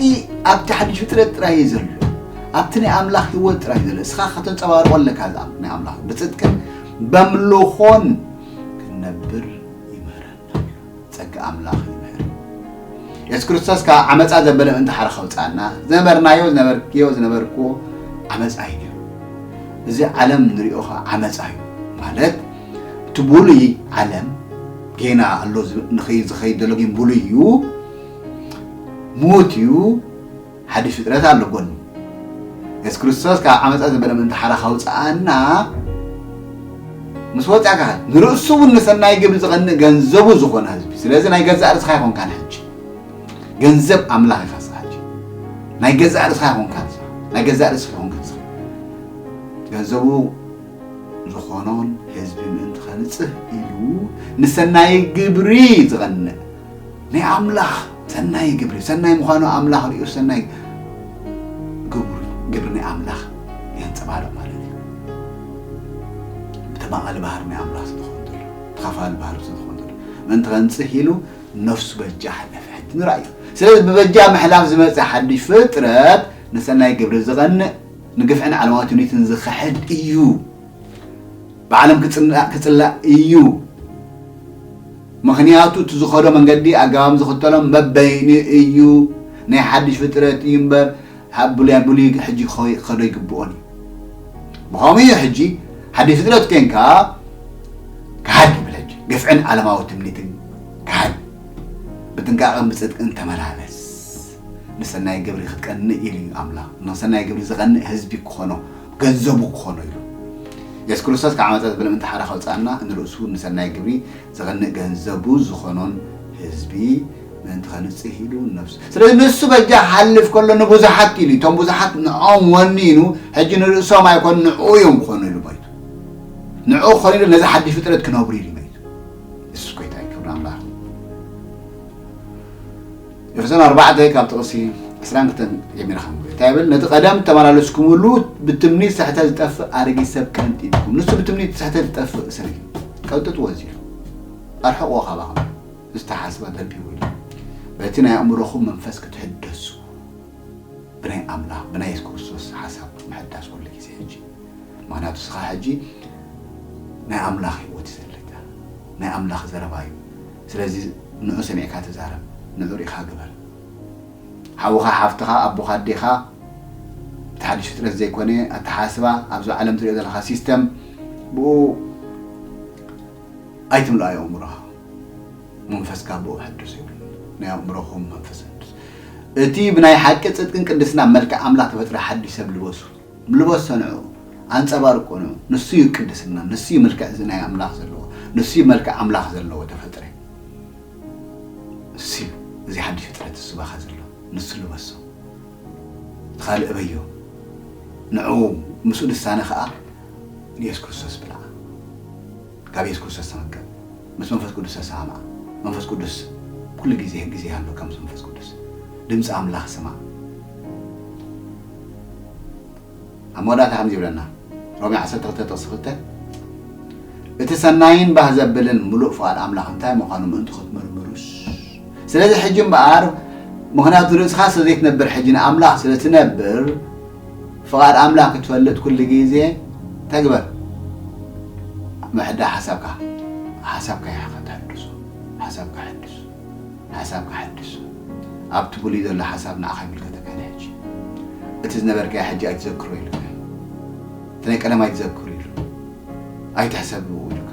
ኣብቲ ሓድሽ ፍጥረት ጥራይ እዩ ዘሎ ኣብቲ ናይ ኣምላኽ ህይወት ጥራይ እዩ ዘሎ እስኻ ከተንጸባርቆ ኣለካ እዚ ናይ ኣምላኽ ብጽድቅን በምልኾን ክንነብር ይምህረና ጸጋ ኣምላኽ ይምህር የሱስ ክርስቶስ ካብ ዓመፃ ዘበለ ምእንቲ ሓረ ከውፅኣና ዝነበርናዮ ዝነበርክዮ ዝነበርክዎ ዓመፃ እዩ ነይሩ እዚ ዓለም ንሪኦ ከዓ ዓመፃ እዩ ማለት እቲ ብሉይ ዓለም ጌና ኣሎ ዝኸይድ ዘሎ ግን ብሉይ እዩ ምዉት እዩ ሓድሽ ፍጥረት ኣሎ ጎኒ የሱስ ክርስቶስ ካብ ዓመፃ ዘበለ ምእንቲ ሓራ ካውፅኣና ምስ ወፃእካ ንርእሱ እውን ንሰናይ ግብሪ ዝቐንእ ገንዘቡ ዝኾነ ህዝቢ ስለዚ ናይ ገዛእ ርስኻ ይኾንካን ሕጂ ገንዘብ ኣምላኽ ይኸ ናይ ገዛእ ርእስኻ ይኹንካ ናይ ገዛእ ርእስኻ ይኹንካ ገንዘቡ ዝኾኖን ህዝቢ ምእንቲ ኸንፅህ ኢሉ ንሰናይ ግብሪ ዝቐንዕ ናይ ኣምላኽ ሰናይ ግብሪ ሰናይ ምዃኑ ኣምላኽ ሪኡ ሰናይ ግብሪ ግብሪ ናይ ኣምላኽ የንጸባርቕ ማለት እዩ ብተማቓሊ ባህሪ ናይ ኣምላኽ ስለዝኾን ዘሎ ተኻፋሊ ባህሪ ስለዝኾን ዘሎ ምእንቲ ከንጽህ ኢሉ ነፍሱ በጃ ሓለፈ ሕጂ ንርኣዩ ስለዚ ብበጃ ምሕላፍ ዝመጸ ሓድሽ ፍጥረት ንሰናይ ግብሪ ዝቐንእ ንግፍዕን ዓለማዊ ትምኒትን ዝኽሕድ እዩ ብዓለም ክጽላእ ክጽላእ እዩ ምኽንያቱ እቲ ዝኸዶ መንገዲ ኣገባብ ዝኽተሎም በበይኑ እዩ ናይ ሓድሽ ፍጥረት እዩ እምበር ኣብ ብሉያ ብሉይ ሕጂ ክኸዶ ይግብኦን እዩ ብኸምኡ እዩ ሕጂ ሓድሽ ፍጥረት ኮንካ ክሃድ ይብል ሕጂ ግፍዕን ዓለማዊ ትምኒትን ክሃድ ብጥንቃቐን ብጽድቅን ተመላለስ ንሰናይ ግብሪ ክትቀንእ ኢሉ እዩ ኣምላኽ ንሰናይ ግብሪ ዝቐንእ ህዝቢ ክኾኖ ገንዘቡ ክኾኖ ኢሉ። የሱስ ክርስቶስ ካብ ዓመጻ ዘበለምንቲ ሓራ ከውጽኣና ንርእሱ ንሰናይ ግብሪ ዝቐንእ ገንዘቡ ዝኾኖን ህዝቢ ምእንቲ ከንጽህ ኢሉ ንነፍሱ ስለዚ ንሱ በጃ ክሓልፍ ከሎ ንብዙሓት ኢሉ እቶም ብዙሓት ንኦም ወኒኑ ሕጂ ንርእሶም ኣይኮኑ ንዕኡ እዮም ክኾኑ ኢሉ መይቱ ንዕኡ ክኾኑ ኢሉ ነዚ ሓድሽ ፍጥረት ክነብሩ ኢሉ መይቱ የሱስ ጎይታ ክብሪ ኣምላኽ ኤፌሶን ኣርባዕተ ካብ ጥቕሲ ዕስራን ክልተን ጀሚረ ከንብብ እንታይ ይብል ነቲ ቀደም እተመላለስኩምሉ ብትምኒት ስሕተት ዝጠፍእ ኣረጊት ሰብ ቀንጢጥኩም ንሱ ብትምኒት ስሕተት ዝጠፍእ ሰብ እዩ ቀንጥጥዎ እዚ ኢሉ ኣርሕቕዎ ካባኹም ዝተሓስበ ገዲቡ ኢሉ በቲ ናይ ኣእምሮኹም መንፈስ ክትሕደሱ ብናይ ኣምላኽ ብናይ የሱስ ክርስቶስ ሓሳብ ምሕዳስ ኩሉ ግዜ ሕጂ ምክንያቱ ስኻ ሕጂ ናይ ኣምላኽ ህይወት ዘለካ ናይ ኣምላኽ ዘረባ እዩ ስለዚ ንዑ ሰሚዕካ ተዛረብ ንዑ ሪኢኻ ግበር ሓውኻ ሓፍትኻ ኣቦኻ ኣዴኻ እቲ ሓዱሽ ፍጥረት ዘይኮነ ኣተሓሳስባ ኣብዚ ዓለም ትሪኦ ዘለኻ ሲስተም ብኡ ኣይትምልኦ ኣእምሮኻ መንፈስካ ብኡ ሕዱስ ይብል ናይ ኣእምሮኹም መንፈስ እቲ ብናይ ሓቂ ጽድቅን ቅድስና መልክዕ ኣምላኽ ተፈጥረ ሓድሽ ሰብ ልበሱ ምልቦት ሰንዑ ኣንጸባርቁኑ ንሱ ዩ ቅድስና ንሱ ዩ ምልክዕ እዚ ናይ ኣምላኽ ዘለዎ ንሱ ዩ መልክዕ ኣምላኽ ዘለዎ ተፈጥረ ንሱ ዩ እዚ ሓድሽ ፍጥረት ንሱ ባኻ ዘሎ ንሱ ልበሶ እቲ ካልእ እበዮ ንዑ ምስኡ ልሳነ ኸኣ ንየሱስ ክርስቶስ ብልዓ ካብ የሱስ ክርስቶስ ተመገብ ምስ መንፈስ ቅዱስ ተሰማማዕ መንፈስ ቅዱስ ኩሉ ግዜ ግዜ ኣሎካ ምስ መንፈስ ቅዱስ ድምጺ ኣምላኽ ስማዕ ኣብ መወዳእታ ከምዚ ይብለና ሮሜ ዓሰርተ ክልተ ጥቕሲ ክልተ እቲ ሰናይን ባህ ዘብልን ምሉእ ፍቓድ ኣምላኽ እንታይ ምዃኑ ምእንቲ ክትምርምሩስ ስለዚ ሕጂ እምበኣር ምክንያቱ ርእስኻ ስለ ዘይትነብር ሕጂ ንኣምላኽ ስለ ትነብር ፍቃድ ኣምላክ ክትፈልጥ ኩሉ ግዜ ተግበር ምሕዳ ሓሳብካ ሓሳብካ ይሓ ተሐድሶ ሓሳብካ ሐድስ ሓሳብካ ሐድስ ኣብቲ ብሉይ ዘሎ ሓሳብ ንዓካ ይምልከተካ ናይ ሕጂ እቲ ዝነበርካዮ ሕጂ ኣይትዘክሮ ኢሉካ እቲ ናይ ቀደም ኣይትዘክር ኢሉ ኣይትሕሰብ ኢሉካ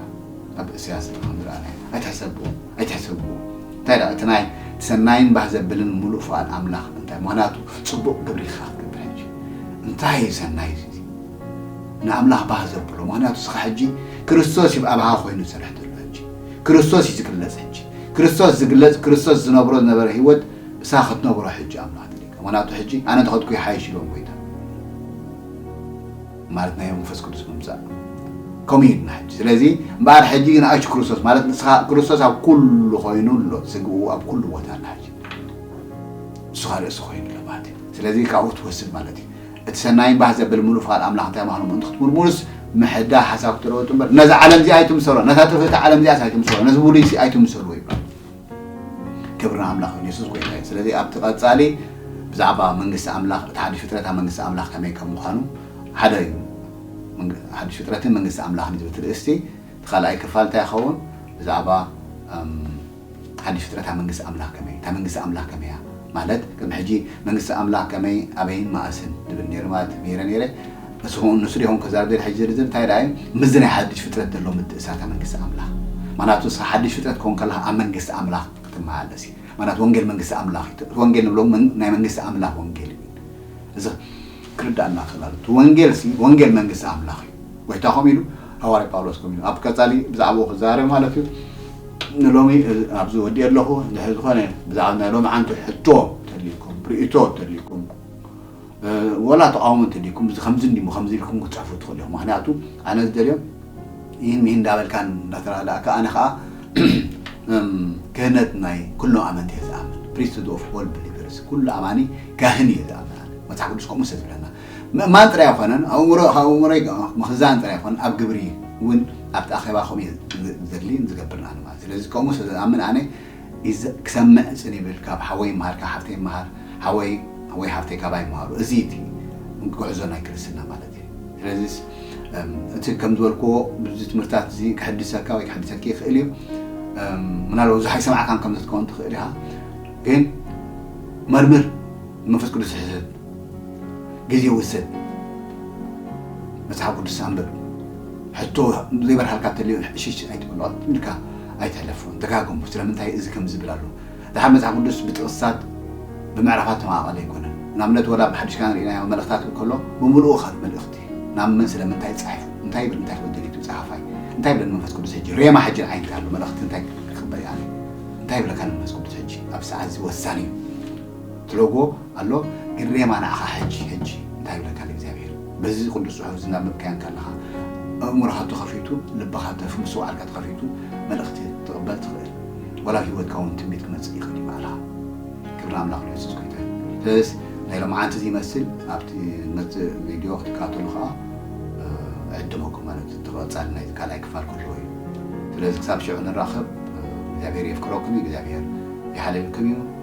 ኣብ እስያስ ኢና ከምዝረኣናዮ ኣይትሕሰብዎ ኣይትሕሰብዎ እንታይ ደኣ እቲ ናይ ሰናይን ባህ ዘብልን ሙሉእ ፍቓድ ኣምላኽ እንታይ ምኽንያቱ ጽቡቕ ግብሪ ኢኻ ክትገብር ሕጂ እንታይ እዩ ሰናይ እዚ ንኣምላኽ ባህ ዘብሎ ምኽንያቱ እስኻ ሕጂ ክርስቶስ እዩ ኣብኻ ኮይኑ ዝሰርሕ ዘሎ ሕጂ ክርስቶስ እዩ ዝግለጽ ሕጂ ክርስቶስ ዝግለጽ ክርስቶስ ዝነብሮ ዝነበረ ህይወት እሳ ክትነብሮ ሕጂ ኣምላኽ ትልካ ምኽንያቱ ሕጂ ኣነ ተኸትኩ ይሓይሽ ኢሎም ጎይታ ማለት ናይ መንፈስ ቅዱስ ምምጻእ ከምኡ እዩ ድና ሕጂ ስለዚ እምበኣር ሕጂ ግን ኣሽ ክርስቶስ ማለት ንስኻ ክርስቶስ ኣብ ኩሉ ኮይኑ ኣሎ ስግኡ ኣብ ኩሉ ቦታ ኣላ ሕጂ ንስኻ ርእሲ ኮይኑ ኣሎ ማለት እዩ ስለዚ ካብኡ ትወስድ ማለት እዩ እቲ ሰናይን ባህ ዘብል ምሉእ ፍቓድ ኣምላኽ እንታይ ምዃኑ ምእንቲ ክትምርምሩስ ምሕዳ ሓሳብ ክትለወጡ እምበር ነዚ ዓለም እዚ ኣይትምሰሎ ነታ ጥፍእቲ ዓለም እዚኣስ ኣይትምሰሎ ነዚ ብሉይሲ ኣይትምሰልዎ ይብላ ክብሪ ንኣምላኽ ይኹን የሱስ ጎይታ እዩ። ስለዚ ኣብቲ ቀጻሊ ብዛዕባ መንግስቲ ኣምላኽ እቲ ሓድሽ ፍጥረት ኣብ መንግስቲ ኣምላኽ ከመይ ከም ምዃኑ ሓደ እዩ ሓድሽ ፍጥረትን መንግስቲ ኣምላኽን ዝብል ትርእስቲ እቲ ካልኣይ ክፋል እንታይ ይኸውን ብዛዕባ ሓድሽ ፍጥረት ኣብ መንግስቲ ኣምላኽ ከመይ እታ መንግስቲ ኣምላኽ ከመይ እያ ማለት ከም ሕጂ መንግስቲ ኣምላኽ ከመይ ኣበይን መኣስን ዝብል ነይሩ ማለት ነይረ ነይረ ንሱ ከምኡ ንሱ ዲኹም ክዛረብ ዘይል ሓጅ ዝርዝር እንታይ ደኣ እዩ ምስዚ ናይ ሓድሽ ፍጥረት ዘሎ ምትእሳታ መንግስቲ ኣምላኽ ማናቱ ንስኻ ሓድሽ ፍጥረት ክኾን ከለኻ ኣብ መንግስቲ ኣምላኽ ክትመላለስ እዩ ማናቱ ወንጌል መንግስቲ ኣምላኽ እዩ እቲ ወንጌል ንብሎ ናይ መንግስቲ ኣምላኽ ወንጌል እዩ እዚ ክርዳኣና ክእል ኣሎ እቲ ወንጌል ሲ ወንጌል መንግስቲ ኣምላኽ እዩ ጎይታ ከምኡ ኢሉ ሃዋርያ ጳውሎስ ከምኡ ኢሉ ኣብ ቀጻሊ ብዛዕባኡ ክዛረብ ማለት እዩ ንሎሚ ኣብዚ ወዲእ ኣለኹ ድሕሪ ዝኾነ ብዛዕባ ናይ ሎሚ ዓንቱ ሕቶ ተልዩኩም ርእቶ ተልዩኩም ወላ ተቓውሞ እንተድይኩም እዚ ከምዚ እንድዩሞ ከምዚ ኢልኩም ክትጽሕፉ ትኽእሉ ኢኹም ምኽንያቱ ኣነ ዝደልዮ ኢሂን ሚሂን እንዳበልካን እንዳተራዳእካ ኣነ ከኣ እም ክህነት ናይ ኩሎም ኣመንቲ እየ ዝኣምን ፕሪስትሁድ ኦፍ ኦል ብሊቨርስ ኩሉ ኣማኒ ካህን እየ ዝኣምን ኣነ መጽሓፍ ቅዱስ ከምኡ ስለ ዝብለና ምእማን ጥራይ ኣይኮነን ኣእምሮ ካብ ኣእምሮ ምኽዛን ጥራይ ኣይኮነን ኣብ ግብሪ እውን ኣብቲ ኣኼባ ከምኡ እየ ዝደሊን ዝገብርን ኣነ ማለት ስለዚ ከምኡ ስለ ዝኣምን ኣነ ክሰምዕ ጽን ይብል ካብ ሓወይ ይመሃር ካብ ሓፍተይ ይመሃር ሓወይ ወይ ሓፍተይ ካባይ ይመሃሩ እዚ እዩ እቲ ጉዕዞ ናይ ክርስትና ማለት እዩ ስለዚስ እቲ ከም ዝበልክዎ ብዚ ትምህርታት እዚ ክሕድሰካ ወይ ክሕድሰኪ ይኽእል እዩ ምናልባት ብዙሕ ኣይሰማዕካን ከም ዝትከውን ትኽእል ኢኻ ግን መርምር መንፈስ ቅዱስ ሕሰብ ግዜ ውሰድ መጽሓፍ ቅዱስ ኣንብብ ሕቶ ዘይበርሃልካ ተልዮ እሽሽ ኣይትበሎ ኢልካ ኣይተሕለፍዎን ደጋገሞ ስለምንታይ እዚ ከምዚ ይብል ኣሎ ድሓር መጽሓፍ ቅዱስ ብጥቅስታት ብምዕራፋት ተማቃቀሊ ኣይኮነን ናብነት ወላ ብ ሓድሽ ኪዳን ሪኢናዮ መልእክታት እንከሎ ብምሉኡ ከ መልእክቲ ናብ መን ስለምንታይ ጻሒፉ እንታይ ይብል እንታይ ክብል ደሊቱ ጸሓፋይ እንታይ ይብለኒ መንፈስ ቅዱስ ሕጂ ሬማ ሕጂ ንዓይ እንታይ ኣሎ መልእክቲ እንታይ ክቅበል ኣነ እንታይ ይብለካ መንፈስ ቅዱስ ሕጂ ኣብ ሰዓት እዚ ወሳኒ እዩ ትለጎ ኣሎ ግሬማ ንዓኻ ሕጂ ሕጂ እንታይ ይብለካ ኣሎ እግዚኣብሄር በዚ ቅዱስ ጽሑፍ እዚ እናንበብካዮ እንከለኻ ኣእምሮኻ ተኸፊቱ ልብኻ ተፍ ምስትውዓልካ ተኸፊቱ መልእኽቲ ትቕበል ትኽእል ወላ ኣብ ሂወትካ እውን ትንቢት ክመጽእ ይኽእል እዩ ባዕልኻ ክብሪ ኣምላኽ ንየሱስ ጎይታ እዩ ስለዚስ ናይ ሎምዓንቲ ዝይመስል ኣብቲ መጽእ ቪድዮ ክትከታተሉ ከኣ እዕድመኩም ማለት እዩ ተቐጻሊ ናይቲ ካልኣይ ክፋል ክህልዎ እዩ ስለዚ ክሳብ ሽዑ ንራኸብ እግዚኣብሄር የፍቅረኩም እዩ እግዚኣብሄር ይሓልልኩም እዩ